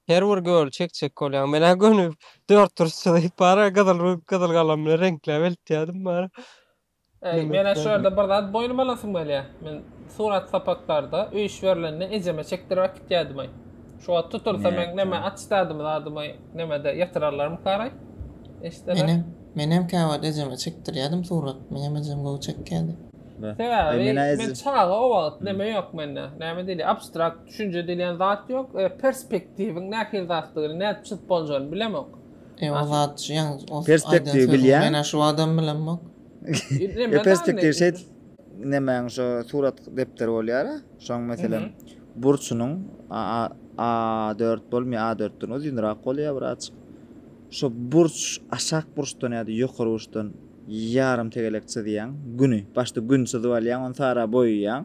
Her bir göli çekjek bolýaň. Men-ä göni dört duruşçy diýip bara gyzyl gyzyl galam bilen reňkläp eltýärdim bara. Äý, men-ä şu ýerde bir zat boýnuma alasym gelýär. Men surat sapaklarda öýüş berlende ejeme çekdirip äkitýärdim-aý. Şu wagt tutulsa men neme açdardymy zadymy nemede ýatyrarlarmykaraý? Eşdeler. Menem käwagt ejeme çekdirýärdim surat. Meňem ejem gowy çekýärdi. Sebäbi men çaga o wagt neme ýok mende. Näme diýilýär? Abstrakt Düşünje diýilýän zat ýok. Perspektiwiň nähili zatdygyny, nädip çyzyp boljagyny bilemok. Ýa o zat şu ýaňy o aýdan Perspektiwi sözüň bilýän. mena şu adam bilemok. Neme Ýa perspektiw däli? şeýt nemäň şo surat depderi bolýara. Şoň meselem burçunyň a a a dört bolmaýar a dörtden uzynrak bolýar birazjyk. Şo burç aşak burçdan ýa-da ýokary burçdan ýarym tegelek çyzýaň. Güni. Başda gün çyzyp alýaň, ony sara boýaýaň.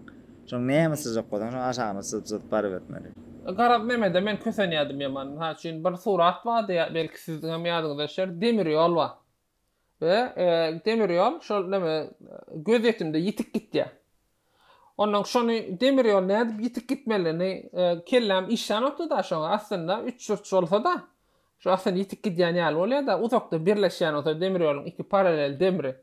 Şoň näme syzjak bolsaň şoň aşagyna syzjyzyp barybermeli. Garaz Memede men kösenýädim ýaman. Mysal üçin bir surat bardy belki siziňem ýadyňyza düşer demir ýol bar. We demir ýol şol neme gözýetimde ýitip gitýär. Onnoň şony demir ýol nädip ýitip gitmelini kelläm işlänokdyda şoňa aslynda üç burç bolsada şo aslynda ýitip gidýän ýaly bolýada uzakda birleşýän bolsa demir ýoluň iki paralel demri.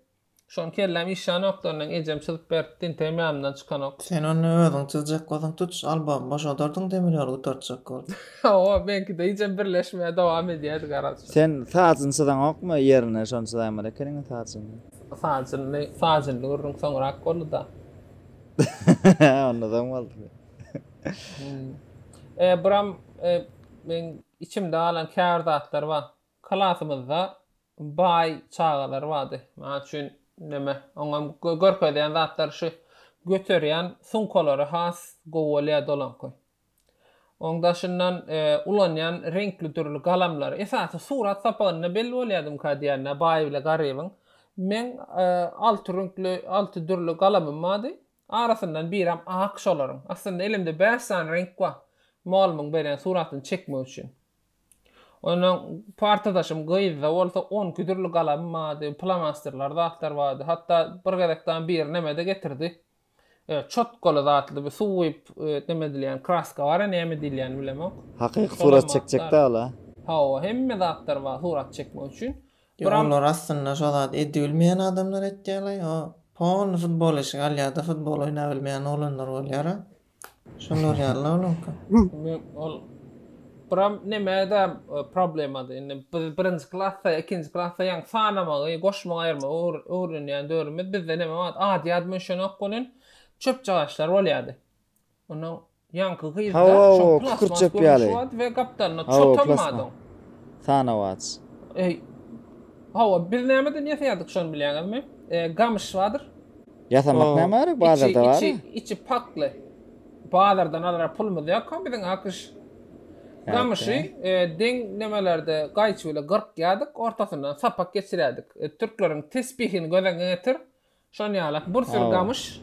Şony kelläm işlänokdyryn, ejem çyzyp beripdi, integem ýadymdan çykanok. Sen ony özüň çyzjak bolsaň tut, albom boşadardyň demir ýoly gutartjak bolup. Hawa, meňkide hijem birleşmä dowam edýärdi garaşja. Sen sajyny çyzaňokmy ýerine şony çyzaýmaly ekeniň sajyny. Sajyny sajynly gürrüň soňrak bolduda. Onda soň boldy. Hum. E, buram e, meň içimde galan käbir zatlar bar. Klasymyzda baý çagalar bardy. Mysal üçin, näme, oňam görkezýän zatlary şu göterýän sumkalary has gowy bolýardy olaňky. Oň daşyndan ulanýan reňkli dürli galamlary. Esasy surat sapagynda belli bolýadymyka diýýän-ä baý bile garybyň. Meň alty rüňkli, alty dürli galamym bardy. Arasyndan birem ak şolaryň. Aslynda elimde bäş sany reňk bar. Mugallymyň beren suratyny çekmek üçin. Onda partadaşym gyzda bolsa on iki dürli galam bardy, plomasterler zatlar bardy. Hatda bir gezek dagy biri neme-de getirdi. Çotkaly zatly bir suw guýup neme edilýän kraska bar-a näme diýilýänini bilemok. Hakyky surat çekjek-dä ol-a. Hawa, hemme zatlar bar surat çekmek üçin. Ýok olar aslynda şo zady edibilmeýän adamlar etýärler o polny futbol eşigi alýarda futbol oýnabilmeýän oglanlar bolýara şolar ýalyda olaňka. Ol buram nemede problemada indi biz birinji klasda ikinji klasda ýaňy sanamagy goşmagy aýyrmagy öwrenýän döwrümiz bizde neme bar ad ýadyma düşenok welin çöpjagaçlar bolýady Onuň ýaňky gyzda şo plasmas görnüşi bardy we gapdalynda çot almadyň. Sanawats. Eý. Hawa, biz nämeden ýasaýardyk şony bilýäňizmi? Gamyş bardyr. Ýasamak näme gerek, bazarda bar. Içi, içi, içi pakly. Bazardan alara pulumyz ýok-a biziň akyş. Gamyşy deň nemelerde gaýçy bile gyrkýardyk, ortasyndan sapak geçirýärdik. Türkleriň tesbihini göz öňüňe getir. Şon ýalak bir sürü gamyş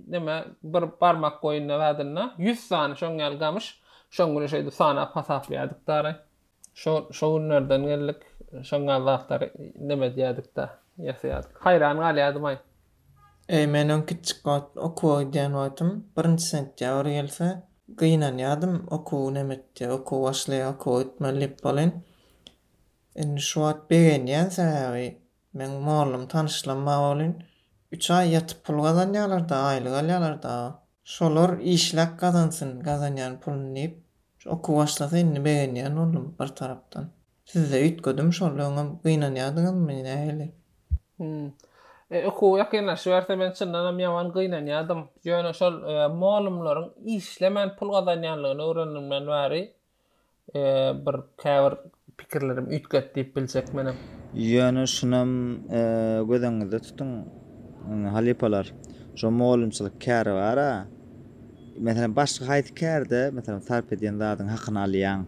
neme bir barmak boýunda zadynda 100 sany şoň ýaly gamyş şoň güni şeýdip sanap hasaplaýardyk dary. Şo şo günlerden geldik şoň ýaly zatlary neme diýerdik da ýasaýardyk. Haýran galýardymaý. Eý men öň kiçjik wagt okuwa gidýän wagtym birinji sentýabr gelse gynanýardym okuw neme etdi okuw başlaýar okuwa gitmeli diýip bolýan. Indi şu wagt begenýän sebäbi Meň mollum tanyşlam bar welin üç aý ýatyp pul gazanýalarda aýlyk alýalar dagy. Şolar işläp gazansyn gazanýan puluny diýip şu oky başlasa indi begenýän boldum bir tarapdan. Sizde üýtgedim şol öňem gynanýadyňyzmy nähili? Hum. E okuw ýakynlaşyberse men çyndanam ýaman gynanýadym. Ýöne şol mollumlaryň işlemän pul gazanýanlygyny öwrenenimden bäri bir käbir pikirlerim üýtgedi diýip biljek menem. Ýöne şunam göz öňüňizde tutuň, halypalar, şo mugallymçylyk käri bar-a, meselem, başga haýsy kärde, meselem, sarp edýän zadyňy hakyny alýaň,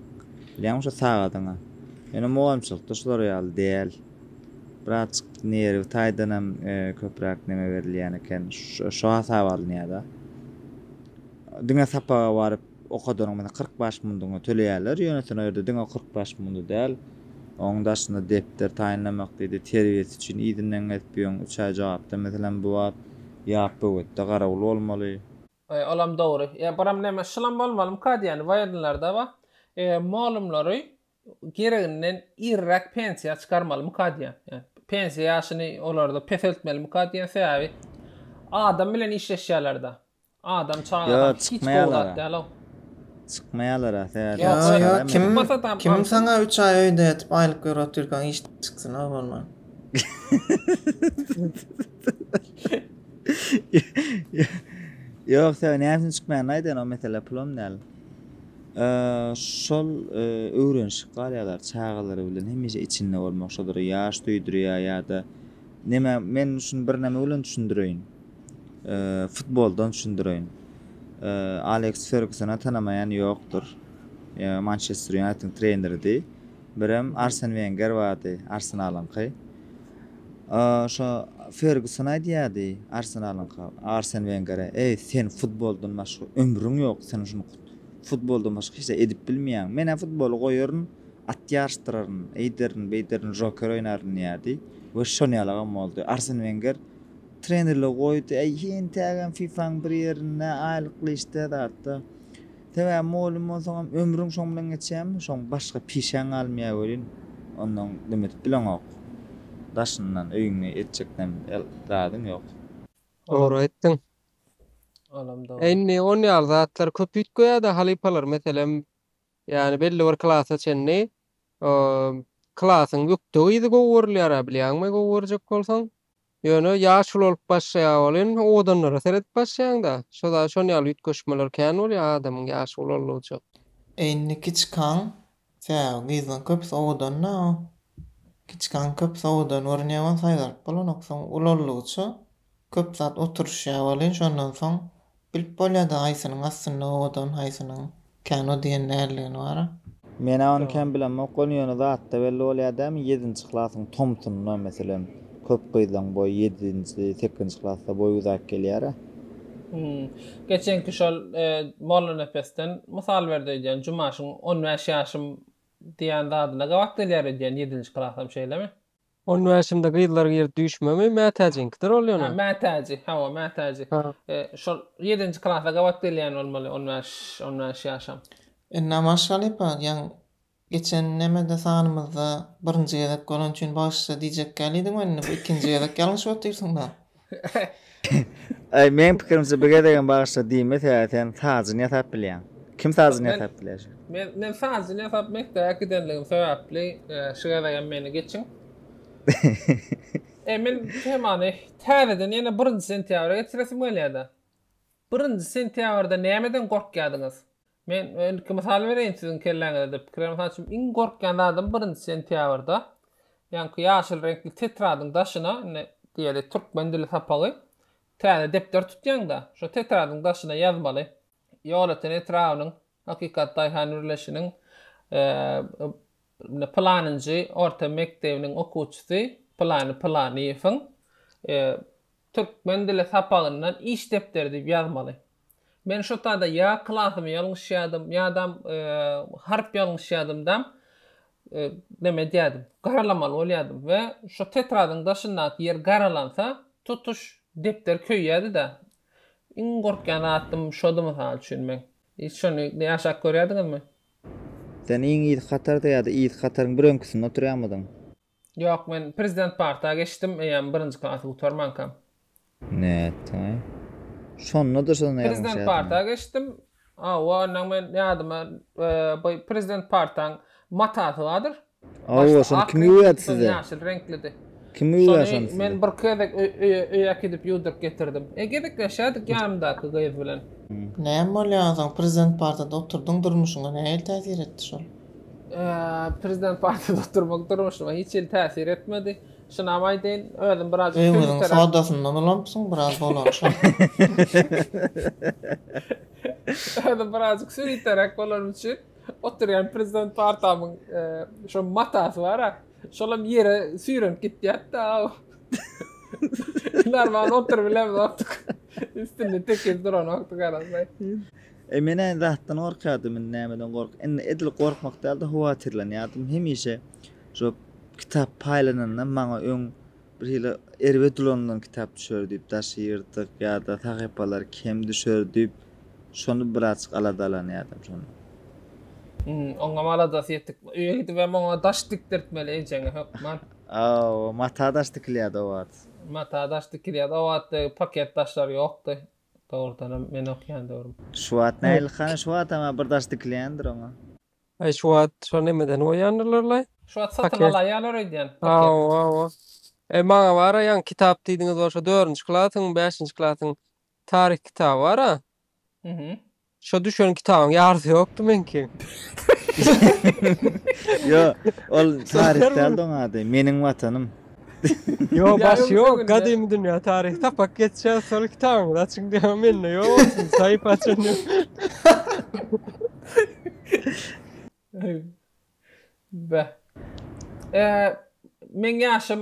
bilýäňmi, şo sagadyňy. Ýöne mugallymçylykda şular ýaly däl. Birazjyk nerwi taýdanam köpräk neme berilýän eken, şo hasaba alynýar-da. Diňe sapaga baryp, Okadanyň bilen kyrk bäş mundygyny töleýärler, ýöne sen o ýerde diňe kyrk bäş mundy däl, onuň daşynda depder taýynlamak diýdi, terbiýesi üçin yzyndan gezip ýöň, üç aý jogapda meselem bu wagt ýap böwetde garawul bolmaly. Eý, olam dogry. Ýa biram näme şulam bolmalymyka diýýän waýernlarda bar. Eý, mugallymlary gereginden irräk pensiýa çykarmalymyka diýýän. Ýa pensiýa ýaşyny olarda peseltmelimika diýýän sebäbi adam bilen işleşýärlerde. Adam çagadan hiç gowy zat dälow. Çykmaýalara sebäbi Ýok, Ýa ýa kim Çykmasa tam kim alsyn. saňa 3 aý öýde ýatyp aýlyk ýöre otyrkaň iş çyksyň a bolman. Ýok sebäbi näme üçin çykmaýan aýdan o mesele pulam däl. Eee, Şol eee, öwrenişik galýalar çagalary bilen hemişe içinde bolmak şodara ýaş söýdürýär ýa-da neme men şuny birneme bilen düşündireýin. futboldan düşündireýin. Aleks Fergusona tanamaýan ýokdur. Mançester Ýunaýtediň treneridi. Birem Arsen Wenger bardy, Arsenalyňky. Şo Ferguson aýdýardy Arsenalyňka, Arsen Wengere, Eý, sen futboldan başga ömrüň ýok, sen şuny futboldan başga hiç zat edip bilmeýäň. Men-ä futboly goýaryn, at ýaryşdyraryn, eýderin, beýderin, žoker oýnaryn diýýärdi we şonuýalagam boldy. Arsen Wenger Trenerler goýdy, äý hentägem FIFA-nyň bir ýerinde aýlykly işde zatda. Sebäbi mugallym bolsaňam ömrüň şoň bilen geçýärmi, şoň başga pişäň galmaýar welin, ondan dim edip bileňok. Daşyndan öýüňde etjek näme el zadyň ýok. Dogry aýtdyň. Olam dogry. Indi on ýaly zatlar köp üýtgeýärde halypalar meselem ýani belli bir klasa çenli o klasyň ýükde gyzy gowy görülýärä bilýäňmi gowy görjek bolsaň. Ýöne ýaşuly bolup başlaýar ol hem owadanlara seredip başlaýaňda şoda şon ýaly üýtgeşmeler kän bolýar adamyň ýaşy ulaldygyja. Indi kiçikaň tä gyzdan köpüs owadanda o kiçikaň köpüs owadan görünýär wan saýgaryp bolanok soň ulaldygyça köp zat oturyşýar welin şondan soň Bilip bolýada haýsynyň astynda owadan haýsynyň kän o diýen däldigini bara. Menä ony kän bilemok ony ýöne zatda belli bolýa dämi ýedinji klasyň tomsunda meselem köp gyzlaň boýy ýedinji sekizinji klasda boýy uzak gelýärä. Hum. Geçenki şol Mollanepesden mysal berdi öýdýän Jumaşyň on bäş ýaşym diýýän zadyna gabat gelýär öýdýän ýedinji klasam şeýlemi? On bäşimde gyzlar girdi düýşmemi, Mätäjiňkidir ol ýöne. Hä, Mätäji, hawa, Mätäji. Şol ýedinji klasa gabat gelýän bolmaly, on bäş, on bäş ýaşam. Ynha, maşgala Pagiýaň geçen nämede sanymyzda birinji gezek bolany üçin bagyşla diýjekkälidiň welin, bu ikinji gezek ýalňyşyp otyrsyň-da. Ay men pikirimçe bir gezegem bağışla diyme sebäbi sen sazını yasap bilýän. Kim sazını Men- yasap bilýär? Men men sazyn ýasap mekdebe gidenligim sebäpli e, şu gezegem meni geçiň. E men temany täzeden ýene 1 sentýabra getiresim gelýär-de. 1 sentýabrda nämeden gorkýardyňyz? Men ilki mysal bereýin siziň kelläňize-de pikirem mysal üçin iň gorkýan zadym birinji sentýabrda ýaňky ýaşyl reňkli tetradyň daşyna indi diýeli türkmen dili sapagy täze depder tutýaňda şo tetradyň daşyna ýazmaly Ýolöten etrabynyň Hakykat daýhan birleşiniň indi pylanynjy orta mekdebiniň okuwçysy pylany Pylanyýewiň Türkmen dili sapagyndan iş depderi diýip ýazmaly. Men şo tada ýa klasymy ýalňyş ýadym, ýadam harp ýalňyş ýadymdam neme edýädim, garalamaly bolýadym we şo tetradyň daşyndaky ýer garalansa, tutuş depder köýýädi-dä. Iň gorkýan zatym şody mysal üçin meň. Hiç şony ýaşap görýädiňizmi? Sen iň yz hatarda ýa-da yz hataryň bir öňküsinde oturýarmydyň? Ýok men prezident parta geçdim eýýäm birinji klasy gutarmankam. Nätdiňä? Şonda-da şol näme Prezident ýadyňa? parta geçdim. Hawa ondan men ýadyma bu prezident partaň matasy bardyr. Hawa şony kim ýuwýardy size? Ýaşyl reňklidi. Kim ýuwýar şony size? Men bir gezek öýe äkidip ýuwduryp getirdim. E gezekleşýärdik ýanymdaky gyz bilen. Näme bolýar ozan prezident partada oturdyň durmuşyňa nähili täsir etdi şol? Prezident partiýada oturmak durmuşyma hiç hili täsir etmedi. Şunam aýdaýyn, özüm biraz öýüňiziň sodasyndan ulamypsyň, biraz dolanşyň. Özüm biraz süriterek bolanym üçin oturýan prezident partamyň e, şo matasy bar ha. Şolam ýere süýrenip gitýärdi-de. Normal oturyp bilemizok. Üstünde tekiz duran wagty garaşaý. Eý, men äýn zatdan gorkýardym, indi nämeden gork. Indi edil gorkmak däl-de, howatyrlanýardym. Hemişe şu kitap paýlananda maňa öň birhili erbet ulanylan kitap düşer diýip, daşy ýyrtyk ýa-da sahypalary kem düşer diýip, şony birazjyk aladalanýardym şondan. Hum, oňam aladasy ýetik. Öýe gidibem oňa daş dikdirtmeli ejeňe hökman. Hawa, mata daş dikilýärdi o wagt. Mata daş dikilýärdi o wagt, paket daşlar ýokdy. Dogrudanam men okýan döwrüm. Şu wagt nähili hany şu wagtam bir daş dikilendir oňa. Aý şu wagt şo nemeden goýýandyrlarlaý. Şu wagt satyn alaýýalar öýdýän paket. Hawa hawa. Eý maňa bara ýaňky kitap diýdiňiz bolsa dördünji klasyň bäşinji klasyň taryh kitaby bara. Şo düşen kitabyň ýarysy ýokdy meňki. Ýo, ol taryh däldi oň ady, Meniň watanym. Ýo, başy ýok, gadymy dünýä taryhy tapak geçýär, şol kitabyňyzy açyň diýýär, mende ýok, sahypa açan ýok. Beh. Meň ýaşym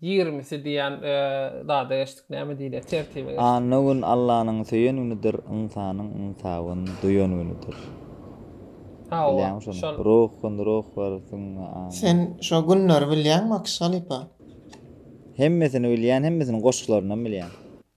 Ýigrimisi diýýän zada geçdik näme diýilýär tertibe geçdik. Anna gün Allanyň söýen günüdir, ynsanyň ynsabyn duýan günüdir. Hawa, şol. Ruh gün ruh bir süňňe Anna. Sen şo günleri bilýäňmi Akyş halypa? Hemmesini bilýän hemmesini goşgularyndan bilýän.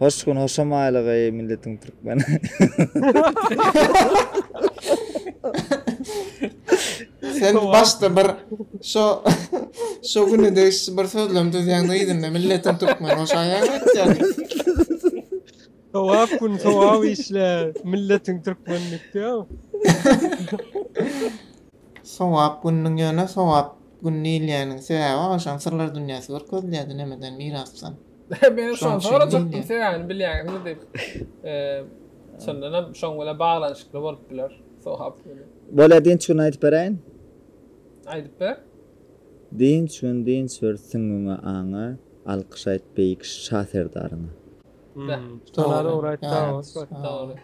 Hoş gün hoşam aýlyk eý milletiň türkmeni. Sen başda bir şo şo güne degişli bir sözlem düzýäňde yzynda milletiň türkmeni hoş aýaň aýtýaň. Sowap gün sowap işle milletiň türkmeni diýipdiýaw. Sowap gününiň ýöne sowap gün diýilýäniniň sebäbi agşam syrlar dünýäsi görkezilýärdi nämeden mirasdan. Men şony sorajakdym, sebäbini bilýäňizmi diýip. Çyndan hem şoň bilen baglanyşykly bolup biler. Sogap bilen. Bolýa dynç gün aýdyp beräýin. Aýdyp ber. Dynç gün dynç ber süňňüňe aňa alkyş aýt beýik Şa Serdaryňa. Beh. Dogry. Dogry.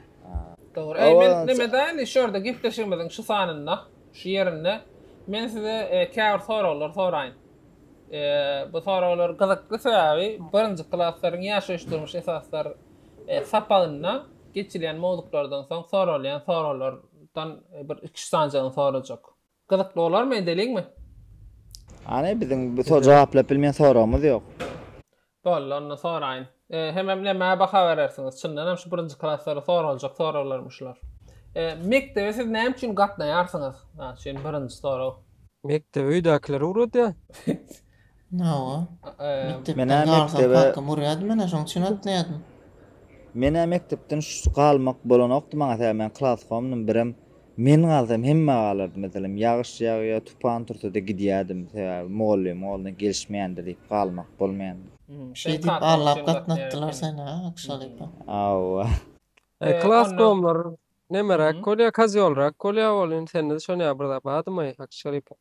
Dogry. Eý men nemede indi şu ýerde gepleşigimiziň şu sanynda, şu ýerinde men size käbir soraglar soraýyn. Bu soraglar gyzykly sebäbi birinji klaslaryň ýaşaýyş-durmuş esaslar sapagynda geçilýän mowzuklardan soň soralýan soraglardan bir iki-üç sanjygyny sorajak. Gyzykly bolarmy, edeliňmi? Hany, biziň bu jogap bilmän soragymyz ýok. Boldy, onda soraýyn. Hemem nämä baha berersiňiz? Çyndan hem şu birinji klaslara soraljak soraglarmy şular? Mekdebe siz näme üçin gatnaýarsyňyz? Mysal üçin, birinji sorag. Mekdebe öýdäkiler ugradýar. Hawa. Mekdepden galsam kakam urýardy menä, şoň üçin gatnaýardym. Menä mekdepden galmak bolanokdy maňa-da, men klaskomdym, birem Men galsam hemme galardy, meselem, ýagyş ýagýa, tupan tursa-da gidýärdim, sebäbi mugallymyň goluna gelişmeýändi diýip galmak bolmaýan. Şeý diýip allap gatnatdylar seni, a, Akşalypa? Hawa. Klas gowumlar nemeräk bolýa, kazyolrak bolýa, ol indi sende-de şonýa bir zat bardymy, Akşalypa?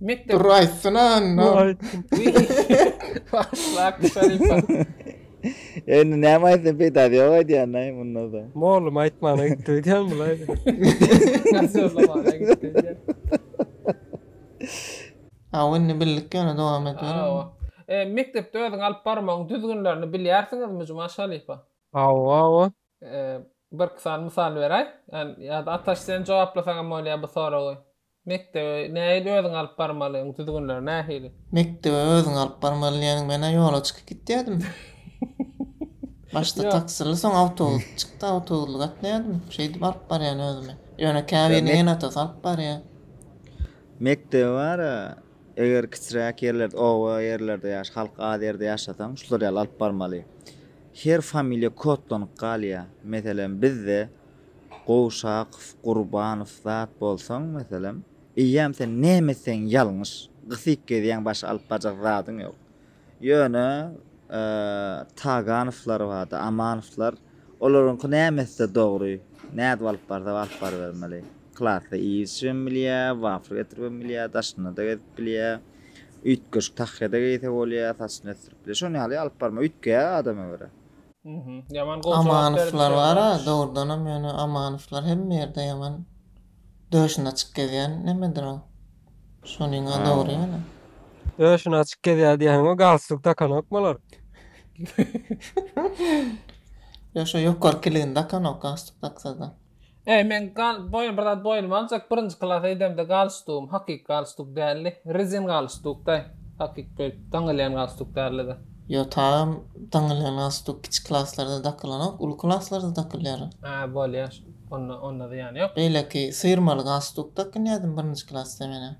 Mekdep. Dur aýtsyna onda. Başlak şeripa. Indi näme aýtsyn peýdasy ýok aýdýandaý munda da. Mugallym aýtmana gitdi öýdýän bulaý. Nazorlamana gitdi öýdýän. Hawa indi bildik ýöne dowam etmeli. Hawa. Mekdepde özüňi alyp barmagyň düzgünlerini bilýärsiňizmi Juma şeripa? Hawa hawa. Birki sany mysal beräý. Ýa-da Ataş sen jogaplasaňam bolýar bu soragy. Mekdebe nähili özüňi alyp barmaly, oň düzgünleri nähili? Mekdebe özüňi alyp barmaly diýeniň men-ä ýola çykyp gitýärdim. Başda taksili soň awtobusly çykdy, awtobusly gatnaýardym. Şeýdip alyp barýan özümi. Ýöne käbiriniň ene-atasy alyp barýar. Mekdebe bar-a. Eger kiçiräk ýerlerde, oba ýerlerde ýaş, halk az ýerde ýaşasaň, şular ýaly alyp barmaly. Her familiýa kodlanyp galýar. Meselem, bizde Gowşakow, Gurbanow zat bolsaň, meselem, eýýäm sen näme etseň ýalňyş. Gysyk gezýäň, başga alyp barjak zadyň ýok. Ýöne Taganowlar bardy, Amanowlar. Olaryňky näme etse dogry. Nädip alyp barsa alyp barybermeli. Klasda işibem bilýä, wafr getiribem bilýä, daşynda-da gezip bilýä. Üýtgeşik tahýa-da geýse bolýa, saçyny ösdürip bilýä. Şon ýaly alyp barma, üýtgeýär adama görä. Amanowlar bar-a, dogrudanam ýöne Amanowlar hemme ýerde ýaman Döşüni açyk gezýän nemedir o? Şonyňa dogry ýöne. Döşüni açyk gezýär diýýäniň o galstuk takanok bolar. Ýok şo ýokary kiligini dakanok galstuk daksada. Eý men gal boýun bir zat boýnuma aljak birinji klasa idemde galstugym hakyky galstuk däldi. Rezin galstukdaý. Hakyky daňylýan galstuk däldi-de. Ýotagym daňylýan stuk kiçi klaslarda dakylanok, uly klaslarda dakylýar. Hä, bolýar şo, onda, onda zyýany ýok. Beýleki syrmaly galstuk dakynýadym birinji klasda menä.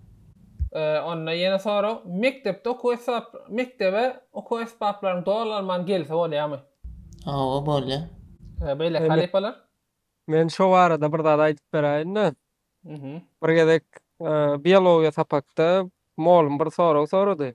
Onda ýene sorag, mekdepde okuw esbap, mekdebe okuw esbaplaryň dolanman gelse bolýarmy? Hawa, bolýar. Beýleki halypalar? Men şo barada bir zat aýdyp beräýin-de. Bir gezek biologiýa sapakda molym bir sorag sorady.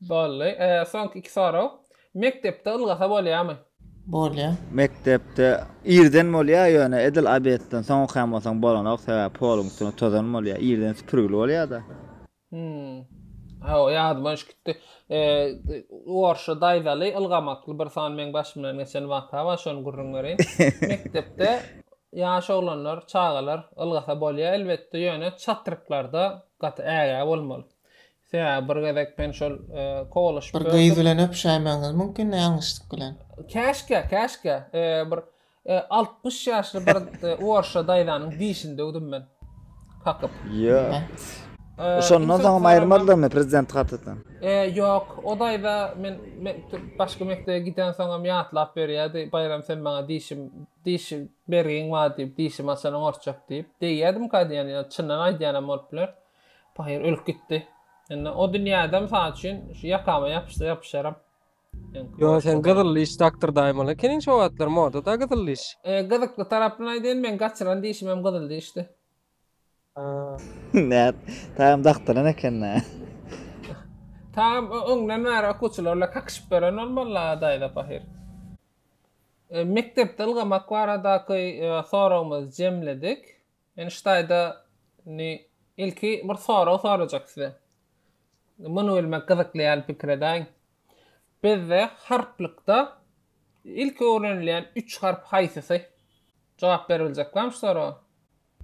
Bolly. Soňky iki sorag. Mekdepde ylgasa bolýamy? Bolýar. Mekdepde irden bolýar ýöne edil obedden soň okaýan bolsaň bolanok sebäbi poluň üstüne tozan bolýar irden süpürgili bolýada. Hum. Hawa ýadyma düşüp gitdi. Orşa daýzaly ylgamakly bir sany meň başymdan geçen waka bar şony gürrüň bereýin. Mekdepde ýaş oglanlar çagalar ylgasa bolýar elbetde ýöne çatryklarda gaty ägä bolmaly. Sebäbi bir gezek men şol kowalaşyp gördüm. Bir gyz bilen öpüşäýmegiňiz mümkin-dä ýalňyşlyk bilen. Käşkä, käşkä. Bir altmyş ýaşly bir orusça daýzanyň dişini döwdüm men. Kakyp. Ýok. Şondan soňam aýyrmadylarmy prezidenti kartadan? Ýok. O daýza men başga mekdebe gidensoňam ýatlap berýärdi, Baýram sen maňa dişim, diş bergiň bar diýip, dişimi açanyň orçak diýip. Degýädimka diýýän, ýa çyndan aýdýanam bolup biler. Pahyr ölüp gitdi. Indi o dünýäde mysal üçin şu ýakama ýapyşsa ýapyşaram. Ýo sen gyzyl liş doktor daýmaly ekeniň şu wagtlar modada gyzyl liş. E, gyzykly tarapyny aýdaýyn meň gaçyran dişim hem gyzyl dişdi. Näet, taýam daktaran ekendä. Taýam öňden bäri okuwçylar bilen kakyşyp ýören bolmaly-la daýza pahyr. Mekdepde ylgamak baradaky soragymyzy jemledik. Men şu taýda indi ilki bir sorag sorajak size. Muny bilmek gyzykly ýaly pikir edäýiň. Bizde harplykda ilki öwrenilýän üç harp haýsysy? Jogap berebiljek barmy şu soraga?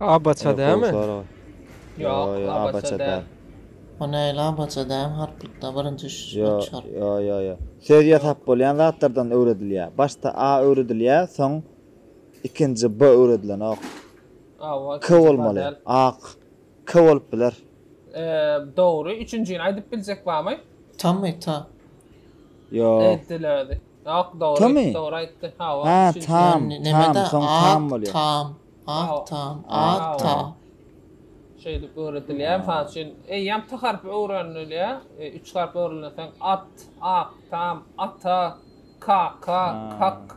Abaça dämi? Ýok, abaça däl. O näle abaça dämi harplykda birinji üç harp? Ýo-ýo-ýo. Söz ýasap bolýan zatlardan öwredilýär. Başda a öwredilýär, soň Ikinji B öwredilenok. K bolmaly. Ak. K bolup biler. Dogry. Üçünjini aýdyp biljek barmy? Tamy, ta. Ýok. Ýok, dogry. Dogry aýtdy. Hawa, üçünji. Tam, tam, soň tam bolýar. Tam, ak, tam, ak, ta. Şeýdip öwredilýär. Mysal üçin, eýýäm t harpy öwrenilýär. Üç harp öwrenilensoň at, ak, tam, ata, kaka, kak.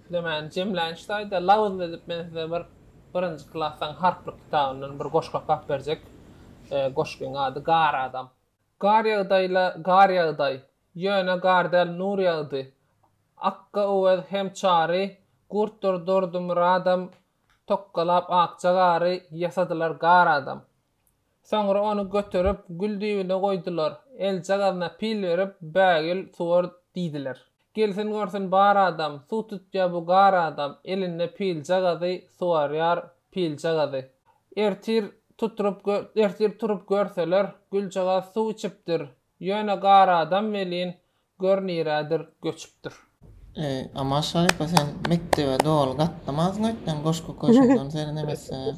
Size men jemlänç taýda labyzly edip men size bir birinji klasaň harplyk kitabyndan bir goşgy okap berjek. Goşgyň ady Gar adam. Gar ýagdaýla gar ýagdaý. Ýöne gar däl nur ýagdy. Akga Öwez hem Çary, Gurtdur Durdumyradam tokgalap akja gary ýasadylar gar adam. Soňra ony göterip, gül düýbüne goýdular. Eljagazyna pil berip, bägül suwar diýdiler. Gelsin görsün bar adam, suw tutýar bu gar adam, elinde piljagazy, suwarýar piljagazy. Ertir tutrup, ertir turup görseler, güljagaz suw içipdir. Ýöne gar adam welin, Gör nirädir göçüpdir. Eý, Aman Şarypa, sen mekdebe doly gatnamazsyň öýtseň, goşgy köşegden serenemezsiň-ä.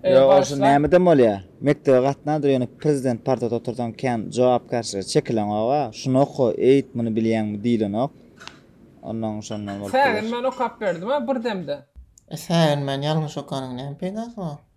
Ýa, bolsa nämeden bolýa? Mekdebe gatnadyr, ýöne prezident partada otursaň kän jogapkärçilige çekileňog-a. Şuny oka, eýt, muny bilýäňmi diýlenok. Onnoň şondan bolup biler. Säginmän okap berdim-ä bir demde. E, säginmän ýalňyş okanyň näme peýdasy bar?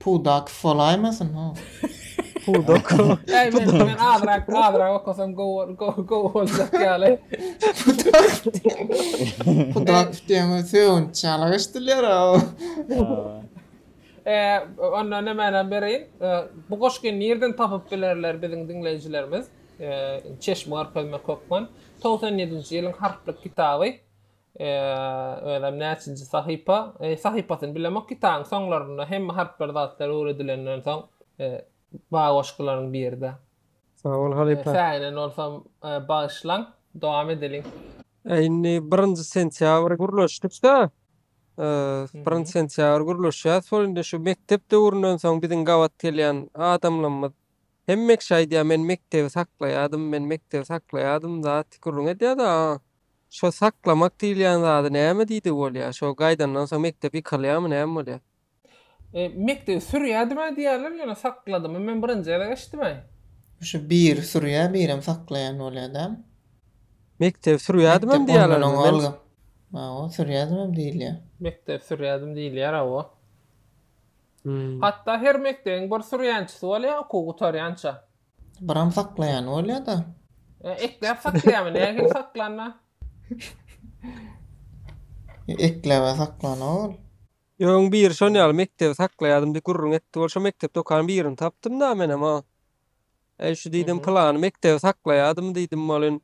Pudak folaýmasyn ho. Pudak. Äý men men azrak azrak okasam gowy gowy gowy boljak ýaly. Pudak. Pudak diýen sögünç ýaly eşdilýär o. Eee onda nämänem bereýin? Bu goşgy nirden tapyp bilerler biziň diňleýjilerimiz? Eee çeşme görkezmek hökman. Togsan ýedinji ýylyň harplyk kitaby. Eee özem näçinji sahypa? Eee sahypasyny bilemok kitabyň soňlarynda hemme harplar zatlar öwredilenden soň eee ba goşgularyň biride. Sag bol halypa. Säinen bolsam bagyşlaň. Dowam edeliň. Indi birinji sentýabr gürleşdikda eee birinji sentýabr gürleşýäs şol indi şu mekdep döwründen soň biziň gabat gelýän adamlarymyz hemmekiş aýdýar men mekdebi saklaýadym men mekdebi saklaýadym zat gürrüň edýär-de Şo saklamak diýilýän zady näme diýdi bolýa şo gaýdandan soň mekdep ýykylýamy näme bolýa. Mekdebi sürýädimä diýýärler ýöne sakladymy men birinji gezek eşitdimäý. Şu biri sürýä birem saklaýan bolýa däl. Mekdebi sürýädimem diýýälermi men. Hawa sürýädimem diýilýä. Mekdebi sürýädim diýilýär hawa. Hatda her mekdebiň bir sürýänçisi bolýa okuw gutarýança. Biram saklaýan bolýa-da. E, ekläp saklaýarmy? Nähili saklanda? Ekläp saklana ol. Ýöň biri şon ýaly mekdebi saklaýadym diýip gürrüň etdi bol. Şo mekdep dokanyň birini tapdym-da menem-a. Eý şu diýdim, pylany mekdebi saklaýadym diýdim bolin.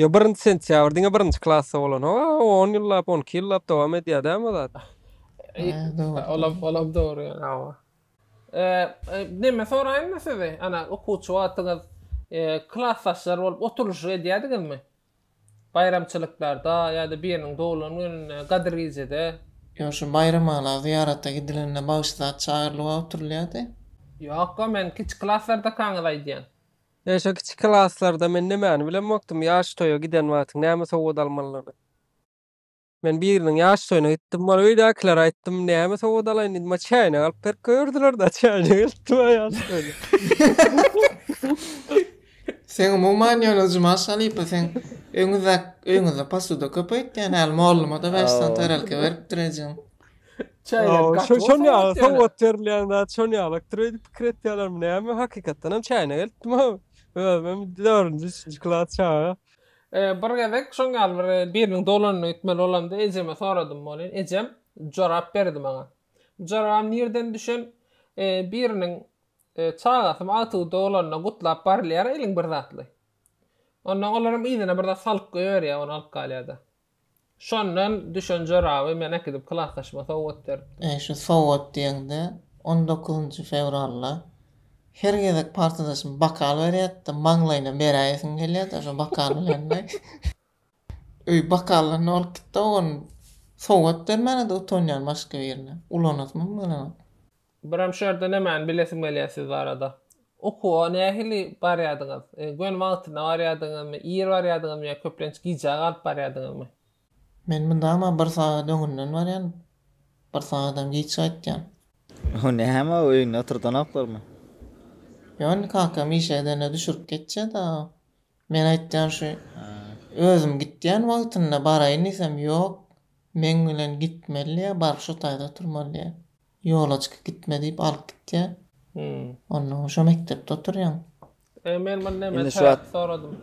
Ýo birinji sentýabr diňe birinji klasda bolan o on ýyllap on iki ýyllap dowam edýär dä bu zat. Olam olam dogry ýa hawa. Neme soraýynmy sizi ana okuwçy wagtyňyz klasdaşlar bolup oturyşyk edýädiňizmi? Baýramçylyklarda ýa-da biriniň doglan gününde gadyr gijede. Ýo şu baýramala zyýarata gidilende bagşy zat çagyrylyba oturylýady. Ýokka men kiçi klaslardakaňyzy aýdýan. Eşe kiçi klaslarda men nemäni bilenmokdym ýaş toýa giden wagtyň näme sowgat almalydygyny. Men biriniň ýaş toýuna gitdim bar öýdäkilere aýtdym näme sowgat alaýyn diýdim bar çäýnek alyp berip goýberdilerda çäýnek eltdi bar ýaş toýuna. Seň umuman ýöne Jumaş halypa seň öňüzde öýüňizde posuda köp öýtýän häli mollumada beş sany tarelka beripdir ejeň. Çaýnak gaty bolsa. Şonda aýsam ot bermeýän zat şonda ýalakdyr öýdüp pikir etýärlermi näme hakykatdan hem çaýnak eltdim ha. Özüm 4-nji 3-nji klas çaga. Bir gezek şoň ýaly bir biriniň dolanyna gitmeli bolamda ejeme soradym bolýn. Ejem jorap berdi maňa. Jorabam nirden düşen biriniň çagasymy agtygy dolanyna gutlap barylýar eliň bir zatly. Ondan olaram yzyna bir zat salyp goýberýär ony alyp galýarda. Şondan düşen joraby men äkidip klasdaşyma sowgat beripdim. Eý, şu sowgat diýeňde, on dokuzynjy fewralda her gezek partadaşym bokal berýärdi-de, maňlaýyna beräýesim gelýärdi-ä şo bokal bilen deý. Öý, bokallar ne bolup gitdi-ow, ony sowgat bermäne-de utanýan başga birine. Ulanasymam gelenok. Biram şu ýerde nämäni bilesim gelýär siz barada. Okuwa nähili barýardyňyz? Göni wagtyna barýardyňyzmy, ir barýardyňyzmy ýa köplenç gijä galyp barýardyňyzmy? Men mundama bir sagat öňünden barýan, bir sagadam giç gaýtýan. O näme o öýünde oturdanoklarmy? Ýony kakam işe gidende düşürip geçýä-da. Men aýtýan şu özüm gitýän wagtynda baraýyn diýsem ýok, meň bilen gitmeli diýýä, baryp şu taýda oturmaly diýýä. Ýolaçka gitme diýip alyp gitýär. Onda şo mekdepde oturýaň. E men muny näme sebäpli soradym?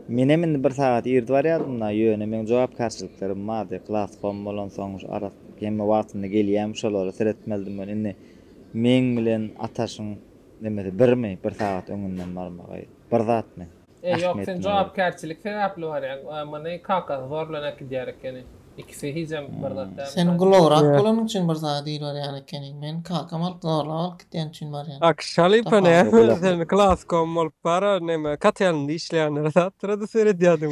Menem indi bir sagat irdi barýardym-da, ýöne meň jogapkärçiliklerim bardy. Klas kom bolansoň, ara hemme wagtynda gelýärmi, şolara seretmelidim men. Indi meň bilen Ataşyň nemesi birmi, bir sagat öňünden barmagy? Bir zatmy? E ýok sen jogapkärçilik sebäpli barýaň a muny kakasy zorlan äkidýär ekeni ikisi hijem bir zat däl. Sen gulawrak bolanyň üçin bir zada diýil barýan ekeniň men kakam alyp zorlap alyp gitýän üçin barýan. Ak şalypa näme sen klaskom bolup bara neme katelnda işleýänlere zatlara-da seredýädiň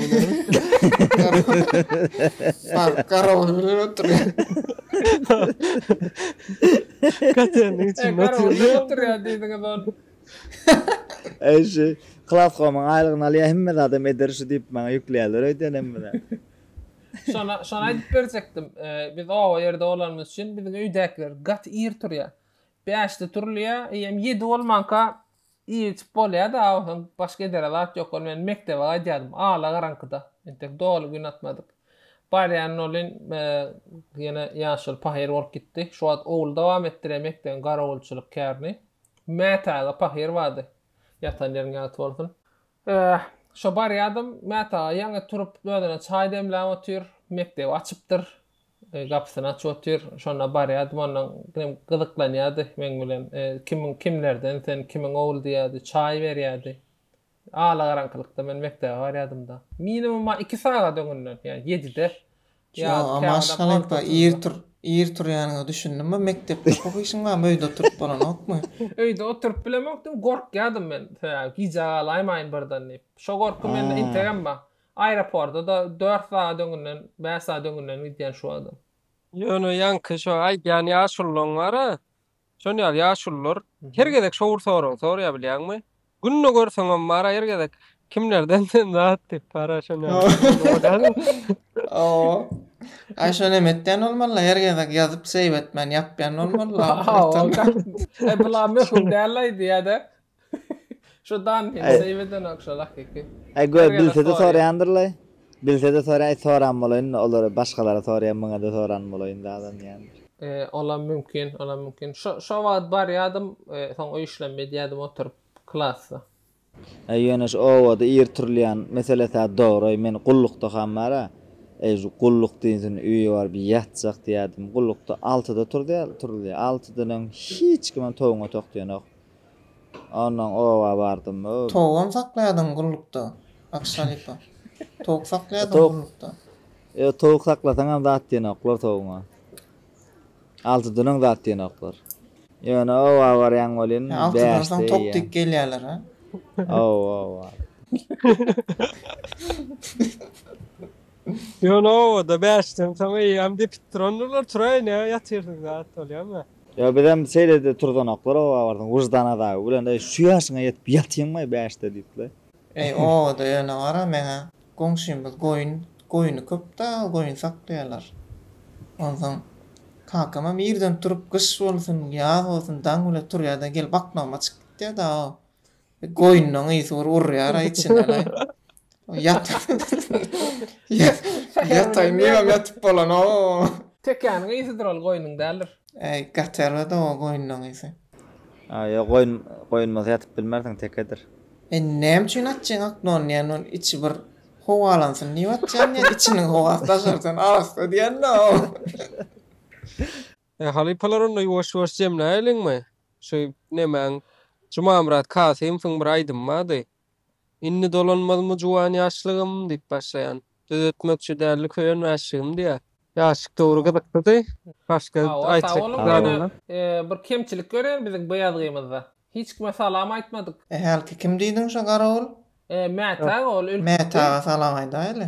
Fark garawul bilen oturýar. Katelniň içinde oturýar. Eý şu Klaskomyň aýlygyny alýa hemme zadam eder şu diýip maňa ýükleýärler öýden hem bize. Şona şony aýdyp berjekdim. Biz oba ýerde bolanymyz üçin biziň öýdäkiler gaty ir turýa. Bäşde turulýa, eýýäm ýedi bolmanka ir içip bolýada, awasaň başga edere zat ýok. Ol men mekdebe gaýdýardym, ala garaňkyda. Entek doly gün atmadyk. Barýan olin ýene ýaşuly pahyr bolup gitdi. Şu wagt ogul dowam etdirýa mekdebiň garawulçylyk kärini. Mät aga pahyr bady. Ýatan ýeriň ýagty bolsun. Eh, şo barýadym, Mät aga ýaňy turup özüne çaý demläp otyr, mekdebi açypdyr, gapysyny açyp otyr, şonda barýadym, ondan ginem gyzyklanýady meň bilen, kimiň, kimlerden sen, kimiň ogly diýýärdi, çaý berýärdi. Alagaraňkylykda men mekdebe barýadym-da. Minimuma iki sagat öňünden, ýa ýedide, ýa käwagtam altysynda. Maşgala ýa-da maşgala ýa-da ir turýanyňa düşündimmi? Mekdepde pok işiň barmy? Öýde oturyp bolanokmy? Öýde oturyp bilemokdym, gorkýadym men. Sebäbi gijä galaýmaýyn birden diýip. Şo gorky mende integem bar. Aeroporta-da dört sagat öňünden, bäş sagat öňünden gidýän şu adam. Ýöne ýaňky şo aýdýan ýaşullaň bar-a, Şonuň ýaly ýaşulular her gezek şowur sorag sorýar bilýäňmi? Günde görseňem bar her gezek kimlerden sen zat diýip bar şonuň ýaly. Hawa. Aý şony hem etýän bolmaly her gezek ýazyp save etmän ýapýan bolmaly. Hawa. Bulam möhüm däl aýdy ýa-da Şu dan hem seýbeden ok şol hakyky. Ay gör bilsede soraýandyrlaý. Bilsede soraýa soran bolaýyn olara başgalara soraýan maňada soran bolaýyn dadan diýen. Olam mümkin, olam mümkin. Şo şo wagt barýadym, soň öý işlem edýädim oturyp klasda. Ay ýöne şu obada ir turulýan meselesä dogry men gullukda ham bara. Ay şu gulluk diýsin öýe baryp ýatjak diýädim. Gullukda altyda turulýar, turulýar. Altydan öň hiç kimem towuňa tok diýenok. Ondan oba bardym o. Towugam saklaýardyň gullukda, Bakyş halypa. Towuk saklaýardyň gullukda. Ýok, towuk saklasaňam zat diýenoklar towuga. Alty dünen zat diýenoklar. Ýöne oba barýan welin bäş diýýän. Alty dün soň tok diýip gelýärler, a? Oba, oba. Ýöne obada bäş dün soň eýýäm depip durandylar, turaýyn-a, ýatyrsyň zat bolýamy? Ýa bizem şeýle-de turzanoklar obabardyň wyždan azaby bilen, Eý, şu ýaşyňa ýetip ýatyňmaý bäşde diýip-le. Eý, obada ýöne gara meňä, goňşymyz goýun, goýny köp-dä, goýun saklaýarlar. Onsoň kakamam irden turup, gyş bolsun, ýaz bolsun, daň bile turýar-da, gelip aknagyma çykyp gitýär-de-ow. Goýnunyň ysy bir urýar-aý içinden-aý. Ýat. Ýataýyn diýibem ýatyp bolanok. Tekäniň ysydyr ol, goýnuň däldir. Äý, gaty ýalyda-ow goýnunyň ysy. Aý, ýok, goýun, goýun bolsa ýatyp bilmersiň, tekedir. Indi näme üçin atjyň oknony diýen, ol içi bir howalansyn diýip atýan diýen, içiniň howasy daşarysyn arassa diýen-de-ow. E halypalar onda ýuwaş ýuwaş jemläýeliňmi? Şu nemäň Jumamyrat Kasymowyň bir aýdymy bardy. Indi dolanmazmy juwan ýaşlygym diýip başlaýan. Düzetmekçi däldi köýen mäşligim diýýär. Ýaşlyk döwri gyzyklydy. Başga aýtjak zadyňyz? Bir kemçilik görýän biziň bu ýazgymyzda. Hiç kime salam aýtmadyk. E hälki kim diýdiň şo garawul? Mätä aga ol ölüpdi. Mätä aga salam aýdaýly.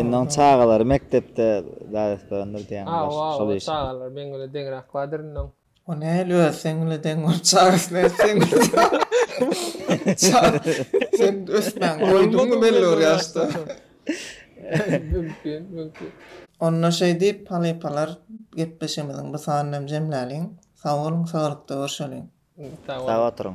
Indi oň çagalary mekdepde däresderendir diýýäň ýaş şol işe. Hawa çagalar meň bilen deňräk bardyr indi oň. O näl öz seň bilen deň bolup çagasy nädip seň bilen çaga sen ösmäň doýduňmy belli bir ýaşda. Mümkin mümkin. Onda şeý diýip halypalar gepleşigimiziň bu sanyny hem jemläliň. Sag boluň saglykda görşeliň. Sag oturyň.